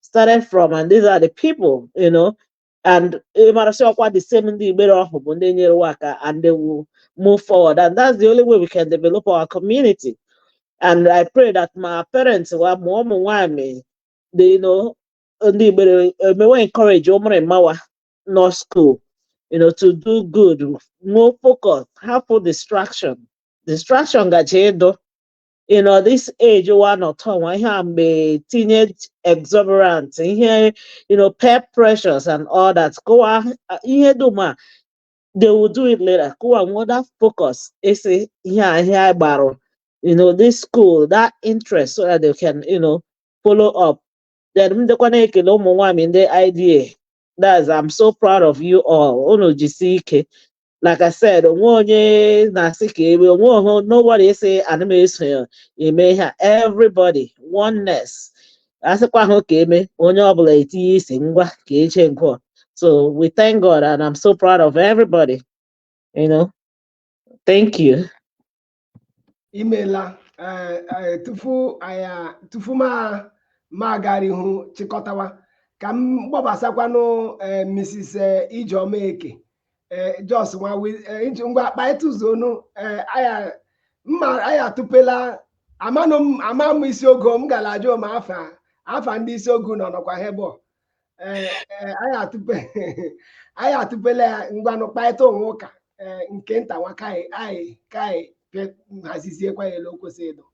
started from and these are the people you know and ị mara sị ọkwa the same ndị igbere ọhụ bụ ndị nyere wa aka and they will move forward and that's the only way we can develop our community and I pray that ma parents wa ma ụmụ nwaanyị they you know ndị igbere emewe encourage ụmụrụma wa nọ school you know to do good nwee focus hapụ distraction distraction gaje ịdụ you know this age one or two one here I'm a teenage exuberant here you know peer pressures and all that go on uh, here do ma they will do it later go on what that focus is here here borrow you know this school that interest so that they can you know follow up then m dịkwa na-ekele ụmụ nwaanyị ndị IDA that's I'm so proud of you all unu jisi ike like I said onwe onye na-asị ka eme onweghụ nobody sị ana m eso ya eme ihe a everybody oneness asịkwa ahụ ka eme onye ọbụla etinye isi ngwa ka eche nke a. so we thank God and I'm so proud of everybody you know thank you imela tufu anya tufu mụ agara ihu chịkọtawa ka m kpọbasakwanụ Mrs. Ijeoma Eke just ngwa ngwa kpaịta ụzọ ọnụ aya mma aya atụpela amanụ m ama m isi ogo m gara ajụ ma afa afa ndị isi ogo nọ nọkwa hebọ anyị atụpela ya ngwanụ kpaịta ọnụ ụka nke nta nwa kaị anyị kaị haziziekwa ya ele o kwesịrị ịdụ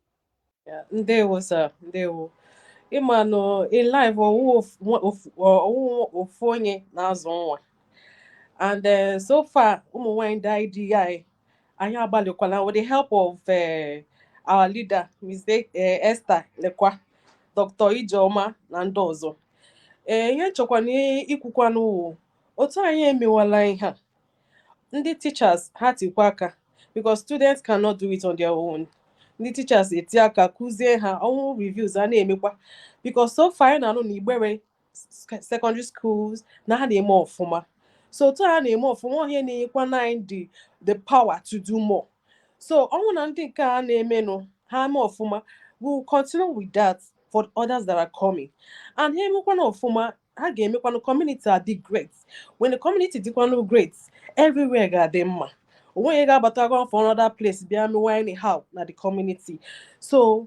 ndewo sa ndewo ịma na in life ọ wụghụ ofu onye na-azụ nwa and eh, so far ụmụ nwanyị ndị ids anyị agbalịkwala with the help of eh, our leader Ms. E- eh, Esther Lekwa Dr. Ijeoma na ndị ọzọ ee ihe m chọkwana ikwukwanụ wụ otu anyị emewala ihe a ndị teachers ha tikwa aka because students cannot do it on their own ndị teachers eti aka kụzie ha ọ wụ reviews a na-emekwa because so far anyị na-anụ na igbere secondary schools na ha na-eme ọfụma so otu ha na-eme ọfụma ọ ihe na-enyekwa anyị the the power to do more so ọ wụ na ndị nke a na-emenụ ha eme ọfụma we will continue with that for others that are coming and ha emekwana ọfụma ha ga-emekwanụ community adị great when the community dịkwanụ great everywhere ga-adị mma onwe onye ga-abata from another place bịa mewe anyhow na the community so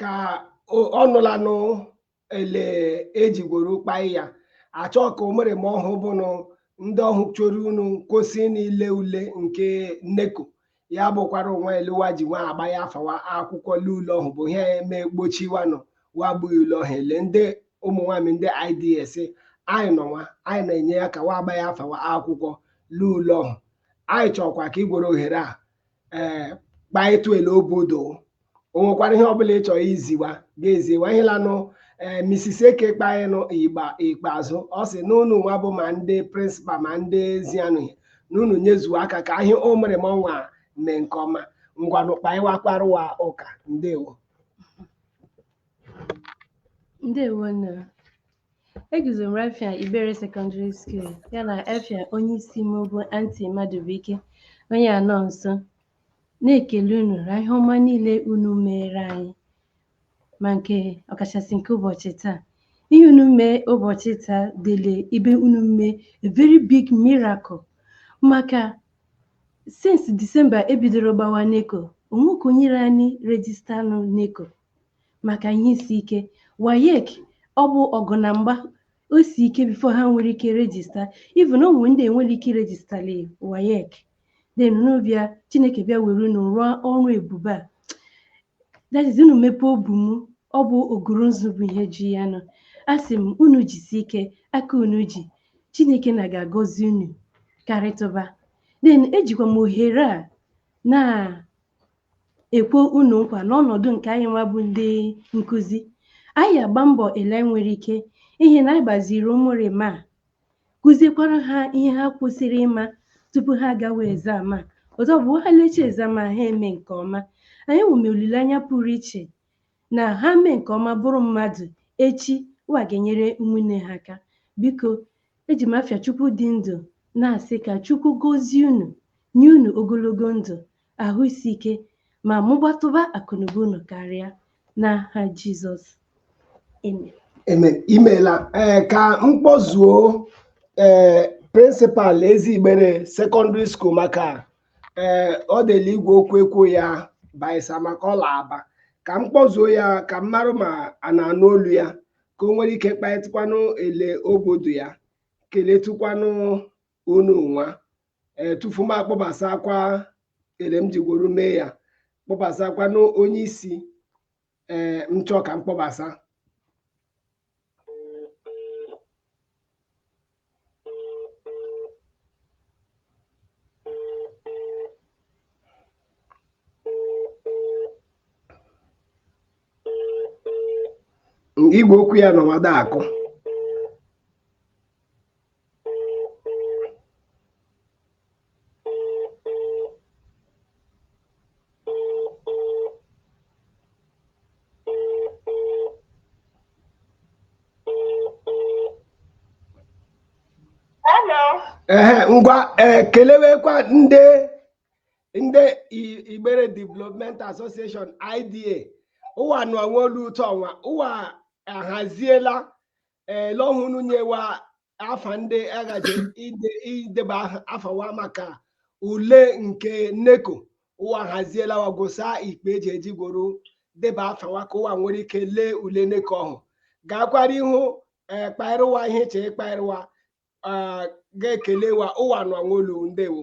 ka ọ nụlanụ ele ejigworo kpai ya achọ ka o mere ma ọhụ bụnụ ndị ọhụ chọrọ unu kwụsị n'ile ule nke NECO ya bụkwara onwe ele wa ji nwa agbaa afa wa akwụkwọ le ule ọhụ bụ ihe eme gbochiwanụ wa gbughị ule ọhụ ele ndị ụmụ nwaanyị ndị ids anyị nọ nwa anyị na-enye aka wa agbaa afa wa akwụkwọ le ule ọhụ anyị chọkwa ka igwere ohere a ee eh, kpaịtụ ele obodo o nwekwara ihe ọbụla ị chọrọ iziwa ga-eziwa ihe lanụ ee eh, Mrs. Eke kpaịnụ igba ikpeazụ ọ sị n'ụnụ nwa bụ ma ndị principal ma ndị ezianụ n'ụnụ nyezuo aka ka ihe ụmụ rịma ọnwa mee nke ọma ngwanụ kpaịwakwarụwa ụka ndewo ndewo nna Eguzo m r'afịa Igbere Secondary School ya na afịa onye isi m bụ Anti Madubuike onye anọ nso na-ekele unu na ihe ọma niile unu meere anyị ma nke ọkachasị nke ụbọchị taa ihe unu mee ụbọchị taa dịle ibe unu mee a very big miracle maka since December e bidoro gbawa NECO onwe ka o nyere anyị register nụ NECO maka ihe isi ike WAEC ọ bụ ọgụ na mgba o si ike before ha nwere ike register even o nwere ndị enwere ike irejistali WAEC then unu bịa chineke bịa were unu rụọ ọrụ ebube a that is unu mepee obu m ọ bụ oguru nzu bụ ihe ji ya nọ a sị m unu jisi ike aka unu ji chineke nna ga-agọzi unu karịtụba then ejikwa m ohere a na ekwe unu nkwa n'ọnọdụ nke anyị nwa bụ ndị nkụzi anyị agba mbọ ele anyị nwere ike ihe na anyị gbaziri ụmụ rịma a kụziekwara ha ihe ha kwesịrị ịma tupu ha agawa exam a ọzọ bụ ha lecha exam a ha eme nke ọma anyị nwere olileanya pụrụ iche na ha mee nke ọma bụrụ mmadụ echi wa ga-enyere ụmụnne ha aka biko eji m afịa chukwu dị ndụ na-asị ka chukwu gozie unu nye unu ogologo ndụ ahụ isi ike ma mụbatụba akụnụba unu karịa n'aha Jizọs amen Amen. imeela ee ka m kpọzuo ee principal Ezi Igbere Secondary School maka ee ọ dịla igwe okwu ekwu ya baisa maka ọ la Aba ka m kpọzuo ya ka m marụ ma a na-anụ olu ya ka o nwere ike kpaịtụkwanụ ele obodo ya keletụkwanụ unu nwa ee tufu m akpọbasakwa ele m jigworo mee ya kpọbasakwa n'onye isi ee m chọọ ka m kpọbasa igwe okwu ya nọ nwada akụ ee ngwa ee kelewekwa ndị ndị Igbere Development Association IDA ụwa nụọ nwa olu ụtọ ọnwa ụwa ahaziela ee lọhụ unu nyewa afa ndị a gaje ide ideba aha- afa wa maka ule nke NECO ụwa haziela wa gwụsa ikpe eji eji gworo deba afa wa ka ụwa nwere ike lee ule NECO ọhụ gaakwara ihu ee kpaịrụ wa ihe che ịkpaịrụ wa ee, ga-ekele wa ụwa nụọ nwa olu ndewo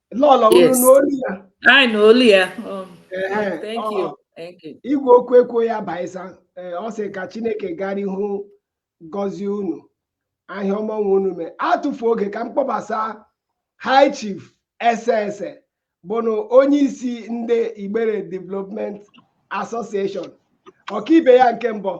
lọlọ unu Yes. n'olu ya I know Leah. Um, Ehe, thank ọ- you. Thank you. igwe okwu ekwo ya baisa ee ọ sị ka chineke gara ihu gọzie unu ahịa ọma nwe unu mee atụfu oge ka m kpọbasa high chief ese ese bụnụ onye isi ndị igbere development association ọkaibe ya nke mbụ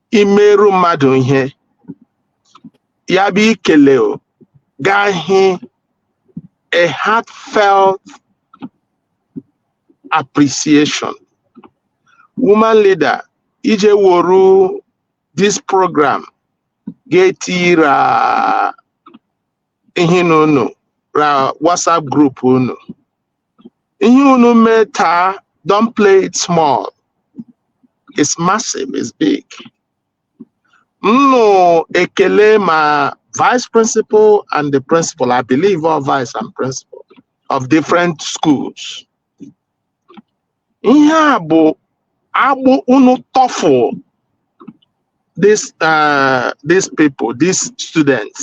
i meeru mmadụ ihe ya bụ ikele gaa hị a heartfelt appreciation woman leader i ji woru this program ga-etira ihe na unu na WhatsApp group unu ihe unu mee taa don't play it small it's massive it's big nnụ ekele ma vice principal and the principal I believe all vice and principal of different schools ihe a bụ agbụ unu tọfụ this uh, these people these students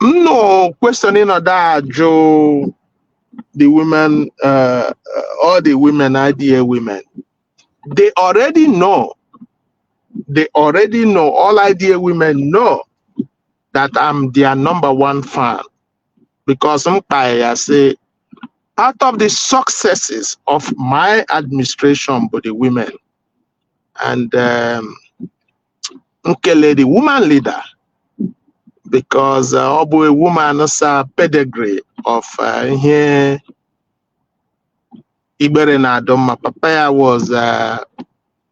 nnụ kwesịrị ịnọdụ ajụ the women uh, all the women IDA women they already know they already know all IDA women know that I'm their number one fan because m kpara ya sị part of the successes of my administration bụ the women and um, m kele the woman leader because uh, ọ bụ a woman's uh pedigree of uh, ihe igbere na-adị mma papa ya was uh,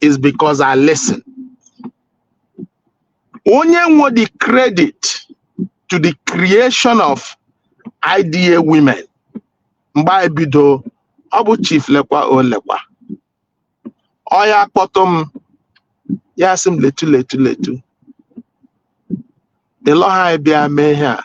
is because I listen. Onye nwe the credit to the creation of IDA women mgbe anyị bido ọ bụ chief lekwa o lekwa ọ ya kpọtụ m ya sị m letu letu letu ịlọha anyị bịa mee ihe a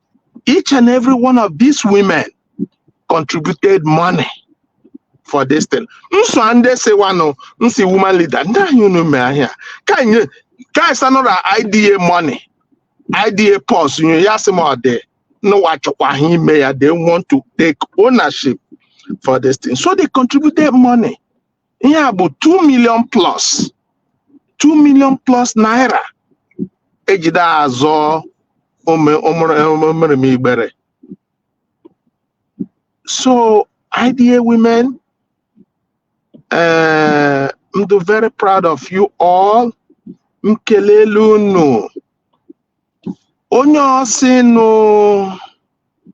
each and every one of these women contributed money for this thing nso a ndị siwanụ nsi woman leader ndị anyị unu mee ahịa ka anyị ka anyị sanụra IDA money IDA purse nyo ya sị m ọ dị n'ụwa chọkwa ha ime ya they want to take ownership for this thing so they contributed money ihe a bụ 2 million plus 2 million plus naira ejide azọ omerem Igbere so IDA women uh, I'm very proud of you all m kelee unu onye ọsịnụ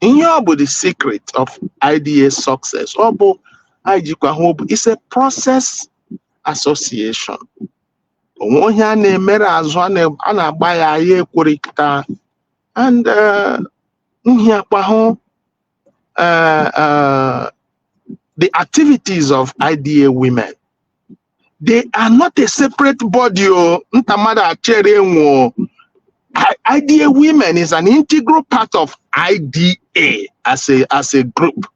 ihe ọ bụ the secret of IDA success ọ bụ anyị jikwa hụ bụ is a process association o nwe onye a na-emere azụ a na- a na-agba ya anyị ekwerịta and eh, nhịakwa hụ eh, eh, the activities of IDA women they are not a separate body o nta mmadụ achere enwo IDA women is an integral part of IDA as a as a group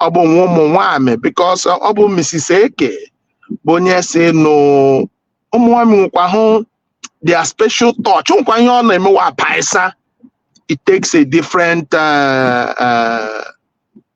ọ bụ nwa ụmụ nwanyị because ọ bụ Mrs. Eke bụ onye sị na ụmụ nwanyị nwekwa hụ their special touch nwekwa ihe ọ na-emewa paisa it takes a different uh, uh,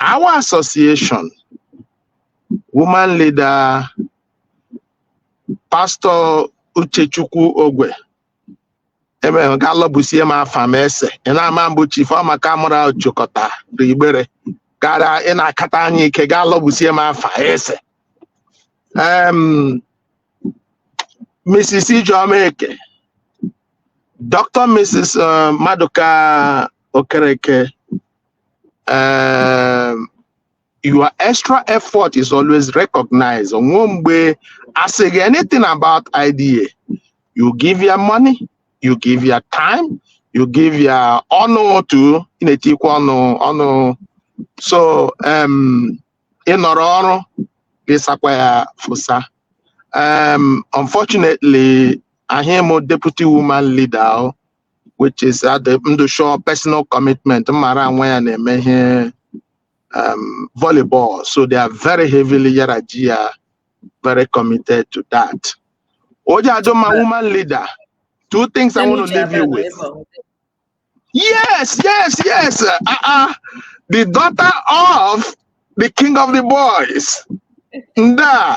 our association, woman leader, Pastor Uchechukwu Ogwe, emere ga lọbusie m afa m ese ị na-ama mbụ chief Ọmaka mụra chịkọta Igbere gara ị na-akata anyị ike ga lọbusie m afa ese um, Mrs. Ijeoma Eke Dr. Mrs. uh, Maduka Okereke um, your extra effort is always recognized o nwe mgbe asịghị anything about IDA you give your money you give your time you give your ọnụ too ị na-etikwa ọnụ ọnụ so um, ị nọrọ ọrụ gị sakwa ya fosa um, unfortunately ahụ m deputy woman leader o, which is adị ndụ shọ personal commitment mara nwa ya na-eme ihe um, volleyball so they are very heavily yara ji ya very committed to that oji ajụ ma woman leader two things i want to leave you with Yes, yes, yes. Uh, uh, the daughter of the king of the boys. Nda,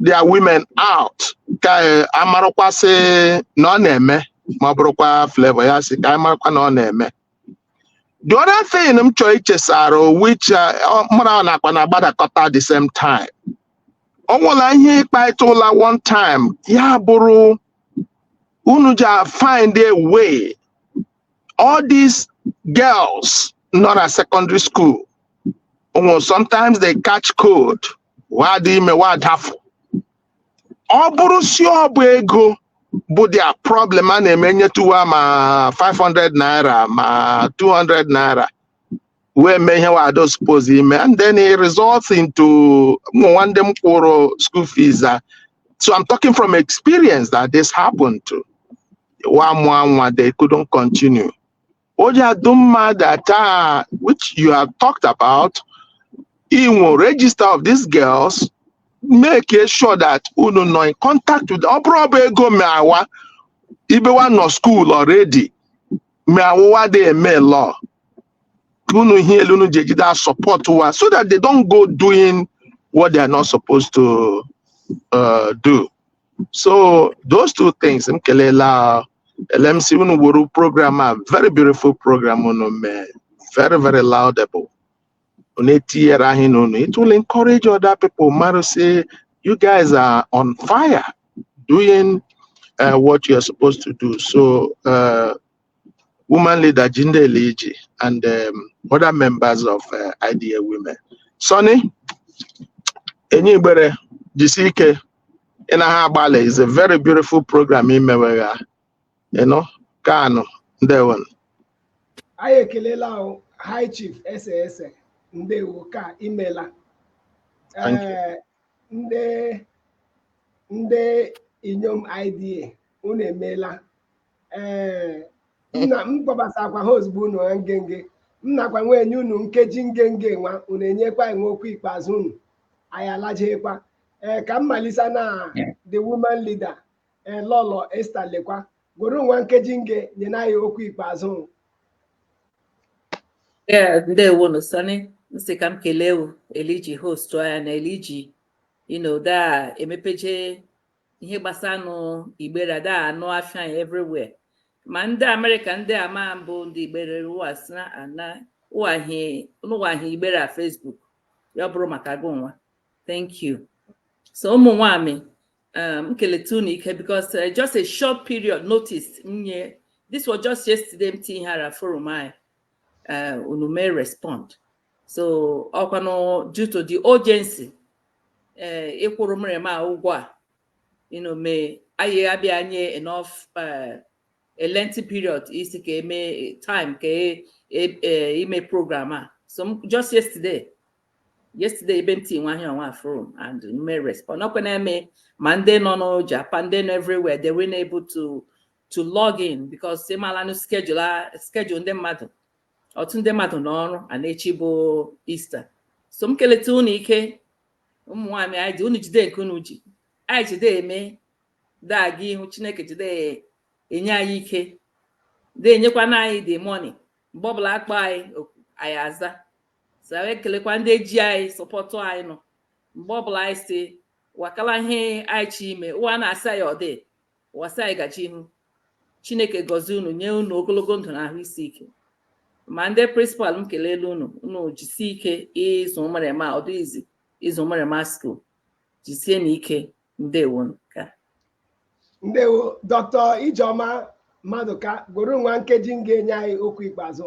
their women out ka eh, a marakwa sị na ọ na-eme ma ọ bụrụkwa flavor ya sị ka anyị marakwa na ọ na-eme the other thing m chọrọ ichesara o, which eh, ọ- mụ na ọ nakwa na-agbadakọta the same time ọ nwụla ihe ịkparịta ụla one time ya bụrụ unu ji a find a way all these girls nọ na secondary school Well, sometimes they catch cold. wa adị ime wa adafụ ọ bụrụ sị ọ bụ ego bụ their problem a na-eme nyetu wa ma 500 naira ma 200 naira wee mee ihe wa adị suppose ime and then it results into o nwe ndị m kwụrụ school fees a so i'm talking from experience that this happened to wa mụọ nwa they couldn't continue ọ ja adị mma that uh which you have talked about inwe register of these girls make sure that unu nọ in contact with ọ bụrụ ọ bụ ego meawa ibe wa nọ school already ma ụwa dị eme law ka unu hụ ele unu ji ejide a support wa so that they don't go doing what they are not supposed to uh, do so those two things m kelela LMC unu wuru program a very beautiful program unu mee very very laudable unu etinyere anyị n'unu it will encourage other people mmadụ say you guys are on fire doing uh, what you're supposed to do so uh, woman leader Jinde Eliji and um, other members of uh, IDA women. Sonny Enyi Igbere jisi ike ị na ha agbalị is a very beautiful program imewe ya you know Kanu ndewo anyị ekelela ahụ high chief S S ndewo ka imela Thank you. Ee, ndị ndị inyom IDA unu emeela ee nna m kpọbasakwa ha ozugbo unu ha ngenge m nakwa nwa enye unu nkeji ngenge nwa unu enyekwa anyị nwa okwu ikpeazụ unu anyị alajeekwa ee ka m malisa na the woman leader ee lọlọ Esther Lekwa gworo nwa nkeji nge nyena anyị okwu ikpeazụ unu. Ee, ndewo nu Sonny m sị ka m kelee uh eliji host anyị na eliji you know da emepeje ihe gbasara nụ igbere a da anụ afa ya everywhere ma ndị America ndị amabụ ndị igbere ụwa sị na ana ụwa hụ na ụwa hụ igbere a facebook ya ọ bụrụ maka gị nwa thank you so ụmụ nwanyị um, m keleta unu ike because uh, just a short period notice m nye this was just yesterday m tinye ihe a ra forum anyị uh, unu mee respond so ọkwanụ due to the urgency ee eh, ịkwụrụ ụmụrịma ụgwọ a you know mee anyị abịa nye enough eh, a lengthy period isi ka eme time ka e, e, e, ime program a so just yesterday yesterday ebe m ti nwa ihe ọnwa a forum and unu mee respond ọkwa na-eme ma ndị nọ na Japan ndị nọ everywhere they were able to to log in because ị malanụ schedule schedule ndị mmadụ otu ndị mmadụ n'ọrụ a na echi bụ Easter so m keleta unu ike ụmụ nwaanyị anyị sị unu jide nke unu ji anyị jide eme da aga ihu chineke jide enye anyị ike na-enyekwana anyị the money mgbe ọbụla a kpọ anyị oku anyị aza so anyị ekelekwa ndị ji anyị support anyị nọ mgbe ọbụla anyị sị wa kala ihe anyị chi ime ụwa na-asị anyị ọ dị Wasai gachi ihu chineke gọzie unu nye unu ogologo ndụ na ahụ isi ike ma ndị prịnsịpal m kelele unu unu jisie ike ịzụ ụmụrịma ọ dịghị easy ịzụ ụmụrịma skuul jisie nụ ike ndewo ka ndewo dọkịta ijeọma mmadụka goro nwa nke gị ngwa nye anyị okwu ikpeazụ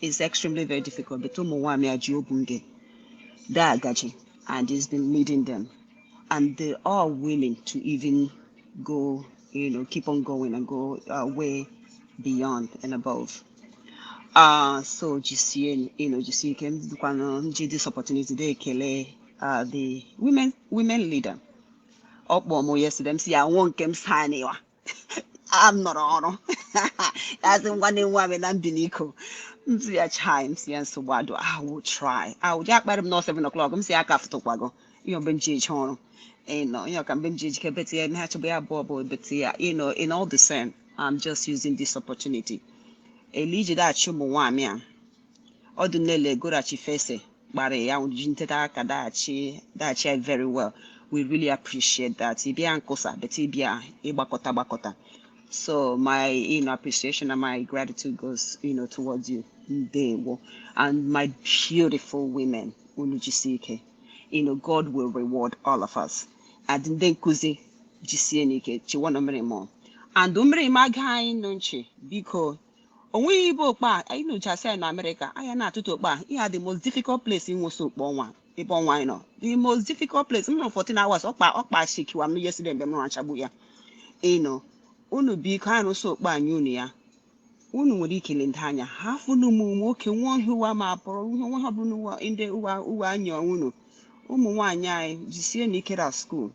is extremely very difficult but ụmụ nwaanyị a ji obu nge da agaji and he's been leading them and they are willing to even go you know keep on going and go uh, way beyond and above uh, so jisie you know jisie ike dịkwanụ nji this opportunity dey ekele uh, the women women leader ọ kpọọ m yesterday m sị ya nwụọ nke m saniwa m nọrọ ọrụ asị ngwa na-enwe amị na mbiliko m sị ya chai m sị ya nsogbu adịghị I'll try ahụ ji akparị m n'ọsọ 7 o'clock m sị ya aka fụtụkwago ihe mgbe m ji eje ọrụ you know ihe ọka mgbe m ji ejike beti ya eme ha chọba ya abụọ bụ beti ya you know in all the same I'm just using this opportunity elu ijide achị ụmụ nwaanyị a ọdụ nele gorachi fese gbara ya ji nteta aka daghachi daghachi ya very well we really appreciate that ịbịa nkosa but ịbịa ịgbakọta gbakọta so my you know, appreciation and my gratitude goes you know, towards you ndewo and my beautiful women unu jisie ike you know, God will reward all of us and ndị nkụzi jisie nụ ike chiwanụ ụmụrịma and ụmụrịma gee anyị nụ nchị biko o nweghị ibe okpe a anyị nụchasị anyị na amerịka anyị na-atụtụ okpe a ihe dị most difficult place ịnwụsị okpe ọnwa ebe ọnwa anyị nọ the most difficult place m nọ 14 hours ọkpa ọkpa shikiwa m yesterday mgbe m nọ achagbu ya you know unu biko anyị rụsị okpe anyị unu ya unu nwere ike ile ndị anya ha fụnụ ụmụ nwoke nwa ọhịa ụwa ma pụrụ ihe nwa ha bụrụ ndị ụwa ụwa anyị unu ụmụ nwaanyị anyị jisie nụ ike na skuul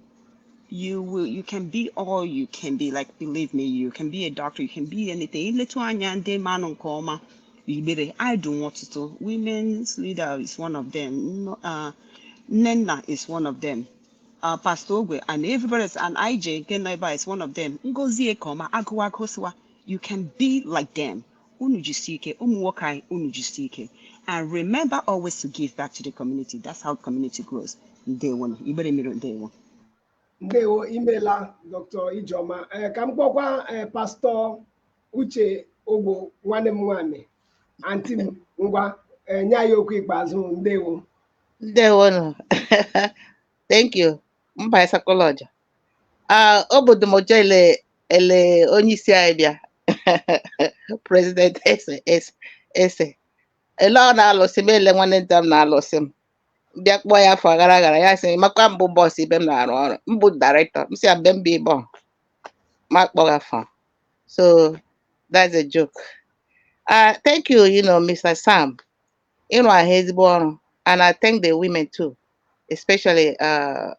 you will you can be all you can be like believe me you can be a doctor you can be anything i letụ anya ndị manụ nke ọma igbere i do ọtụtụ women's leader is one of them uh, nnenna is one of them uh, pastor ogwo and everybody is an ij nke nọ is one of them ngozi ekeọma agụwa agụsịwa you can be like them Unu jisi ike, ụmụ nwoke anyị, unu jisi ike. And remember always to give back to the community. That's how community grows. Ndewo nụ. Igbere mmiri ndewo. ndewo imela dr ijeọma ee ka m kpọkwa ee pastọ uche ogwo nwanne m nwaanyị anti m ngwa ee nye anyị okwu ikpeazụ ndewo Ndewonu. Thank you. mba esakwala ọja Ah, obodo m ọja ele ele onye isi anyị bịa president ese ese ese ele ọ na-alụsị m ele nwanne nta m na-alụsị m bịa kpọọ ya afọ gara gara ya sị makwa m bụ boss ibe m na-arụ ọrụ m bụ director m sị ya mbe mba ịbọ ma kpọga afọ so that's a joke uh, thank you you know mr sam ịrụ ahụ ezigbo ọrụ and I thank the women too especially uh,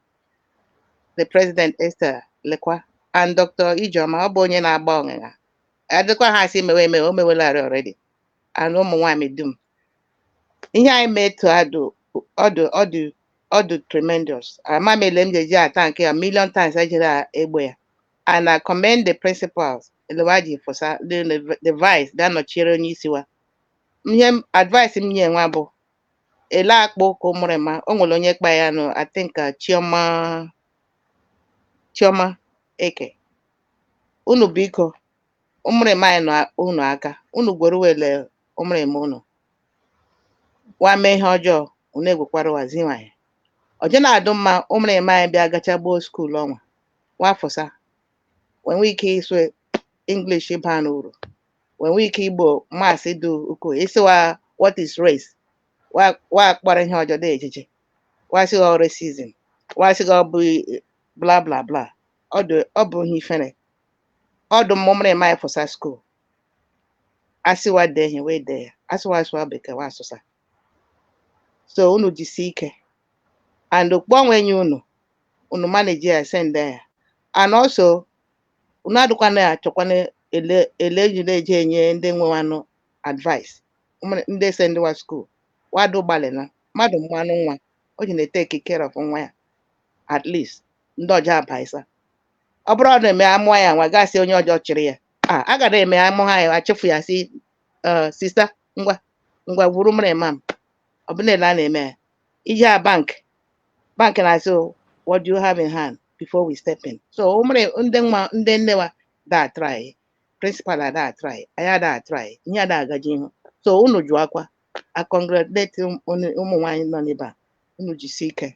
the president Esther Lekwa and Dr. Ijeoma ọ bụ onye na-agba ọṅịṅa adịkwa ha asị mewe emewe o mewelarị already and ụmụ nwaanyị dum ihe anyị mee to adụ ọ dụ tremendous ama m ele m ji eji athank ya million times ejere egbe ya and I commend the principals ele wa ji fụsa the the vice bịa nọchiere onye isi wa ihe m- advice m nye nwa bụ ele a kpa ụka ụmụrụma o nwere onye kpa ya nụ I think uh, Chioma Chioma Eke unu biko ụmụrụma anyị nọ unu aka unu gwere wele ụmụrụma unu wa mee ihe ọjọọ unu egwekwara wa zinwa ya ọjọ na-adụ mma ụmụrụma anyị bịa gacha gboo skuul ọnwa wa fụsa wee nwee ike ịsụ English baa n'uru wee nwee ike igbo maths dị ukwuu ị sị wa what is race wa wa kpọrọ ihe ọjọọ dị ejiji wa sị gị ọ racism wa sị gị ọ bụ bla bla bla ọ dị ọ bụ ihe ifere ọ dị mma ụmụrụma ya fụsa skuul a sị wa dee ihe wee dee ya a sị wa sụa Bekee wa asụsa so unu jisie ike and okpogho ọnwa enye unu unu manage ya send ya and also unu adịkwana achọkwana ele ele eji na-eji enye ndị nwe wa nụ advice ụmụ- ndị esend wa skuul wado gbalịla mmadụ mụanụ nwa o ji na-etake care of nwa ya at least ndị ọjọọ abaisa ọ bụrụ ọ na-eme amụọ ya nwa gasị onye ọjọọ chịrị ya a a ga na-eme amụ ha ya achịfụ ya sị "Eh, sista ngwa ngwa gwuru mmiri mam ọ bụ na-ele a na-eme ya i jea bank bank na-asị "Oh, what do you have in hand before we step in so o mere ndị nwa ndị nne wa ada atry principal ada atry anyị ada atry ihe ada agaji ihu so unu jụ akwa a congratulate ụm- unu- ụmụ nwaanyị nọ n'ebe a unu jisi ike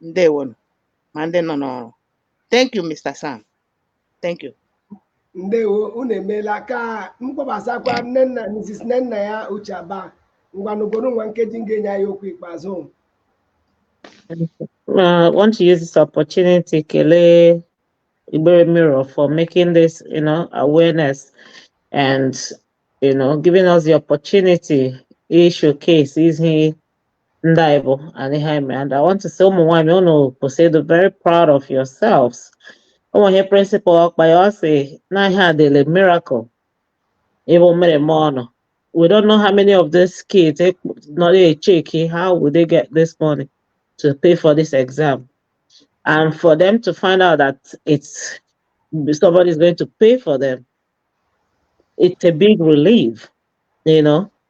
ndewo nu ma ndị nọ n'ọrụ thank you mr sam thank you ndewo unu emeela ka m kpọbasakwa Nnenna mrs Nnennaya Uche Aba Ngwa n'obodo nwa nkeji m ga-enye anyị okwu ikpeazụ I want to use this opportunity kelee Igbere Mirror for making this, you know, awareness and, you know, giving us the opportunity to showcase ihe ndị anyị bụ anyị ha eme and I want to say ụmụ nwaanyị unu kwesị ịdụ very proud of yourselves ọ wụ ihe principal Ọkpara ọ sị na ihe a dị like miracle even mere m ọnụ we don't know how many of these kids eh, nọ na-echeki how would they get this money to pay for this exam and for them to find out that it's somebody is going to pay for them it's a big relief you know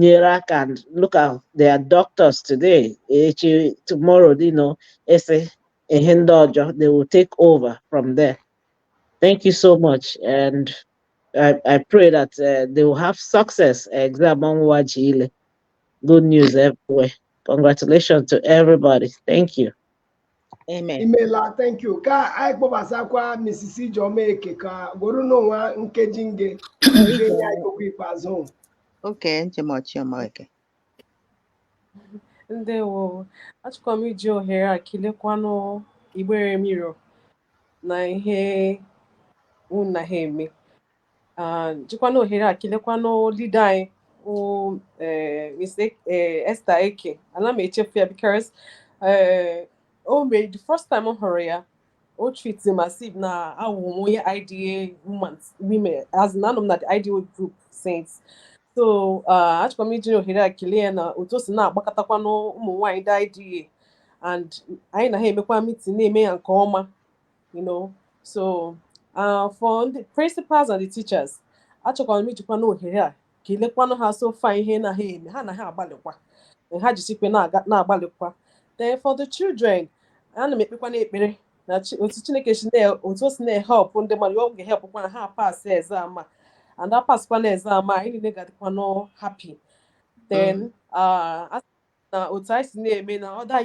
nyere aka and look at their doctors today echi tomorrow you know ese ihe ndị ọjọọ they will take over from there thank you so much and I, I pray that uh, they will have success exam ọnwụwa ji ile good news everywhere congratulations to everybody thank you Amen. imela thank you ka anyị kpọbasakwa Mrs. Ijeoma Eke ka gworo n'ụwa nkeji nge nge nye anyị okwu ikpeazụ Okay Ijeoma Chiọma Eke. ndewo achọkwa m iji ohere a kelekwanụ Igbere Mirror na ihe unu na ha eme jikwana ohere a kelekwanụ leader anyị bụ eh, Miss e, eh, Esther Eke ana m echefu ya because eh, o mee the first time m hụrụ ya o treat m as if na awụ m onye IDA women as in anọ m na the IDA group since so ah, achọkwa m iji ohere a kelee ya na otu o si na-agbakọtakwanụ ụmụ nwaanyị ndị IDA and anyị na ha emekwa meeting na-eme ya nke ọma you know so uh, for the principals and the teachers achọkwanụ m ijikwanụ ohere a kelekwanụ ha so far ihe na ha eme ha na ha agbalịkwa ha jisikwe na-agbalịkwa then for the children ana m ekpekwanụ ekpere na otu chineke si otu o si na-ehelpụ ndị mmadụ ọ ga-ehelpụkwanụ ha pass exam a and ha passịkwanụ exam a anyị niile ga-adịkwanụ happy then mm. uh, na otu anyị si na-eme na other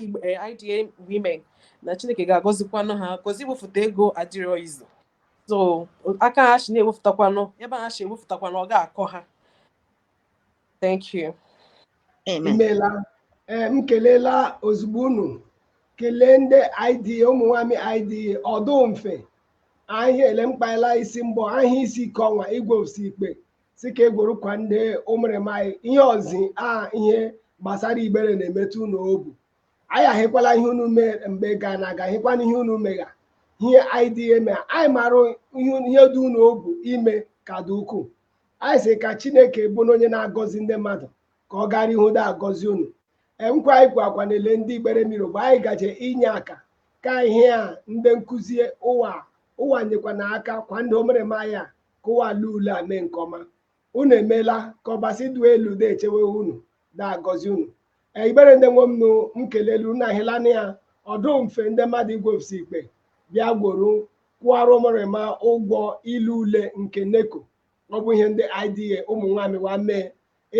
IDA women na Chineke ga-agọzikwanụ ha cause iwefụta ego adịrọ easy so aka ha si na-ewefụtakwanụ ebe ha si ewefụtakwanụ ọ ga-akọ ha thank you imela eh, m kelela ozugbo unu kelee ndị IDA ụmụ nwanyị IDA ọ dụ mfe ahịa ele mkpaela isi mbọ ahịa isi ike ọnwa igwe osi ikpe sị ka e gworo kwa ndị ụmụrịma anyị ihe ọzi a ihe gbasara Igbere na-emetụ unu obu anyị ahịkwala ihe unu mee mgbe gara aga hịkwana ihe unu megha ihe anyị dị eme anyị marụ ihe dị unu obu ime ka dị ukwuu anyị sị ka chineke bụ na onye na-agọzi ndị mmadụ ka ọ gara ihu da agọzi unu nkwa anyị kwa akwa na-ele ndị Igbere Mirror bụ anyị gaje inye aka ka ihe a ndị nkụzi ụwa ụwa nyekwanụ aka kwa ndị ụmụrịma anyị a kụwala ule a mee nke ọma unu emeela ka ọbasi dụ elu da echewe unu da agọzi unu ee igbere ndị nwe m nụ m kelelu unu ahịla na ya ọ dụ mfe ndị mmadụ igwefsi ikpe bịa gworo kwụọrọ ụmụrịma ụgwọ ilu ule nke NECO ọ bụ ihe ndị IDA ụmụ nwaanyị wa mee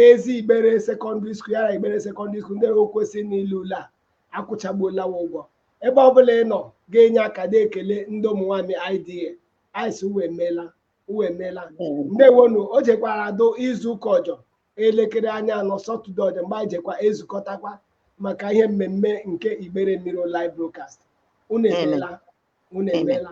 ezi igbere secondary school ya ra igbere secondary school ndị o kwesịrị n'ilu ule a akwụchagbuola wa ụgwọ ebe ọ bụla ị nọ ga-enye aka na-ekele ndị ụmụ nwaanyị IDA ice uwe emeela uwe emeela ndeewonu o jekwara adụ izu ụka ọjọ elekere anya anọ saturday ọjọ mgbe anyị jekwa ezukọtakwa maka ihe mmemme nke igbere mirror live broadcast unu emeela unu emeela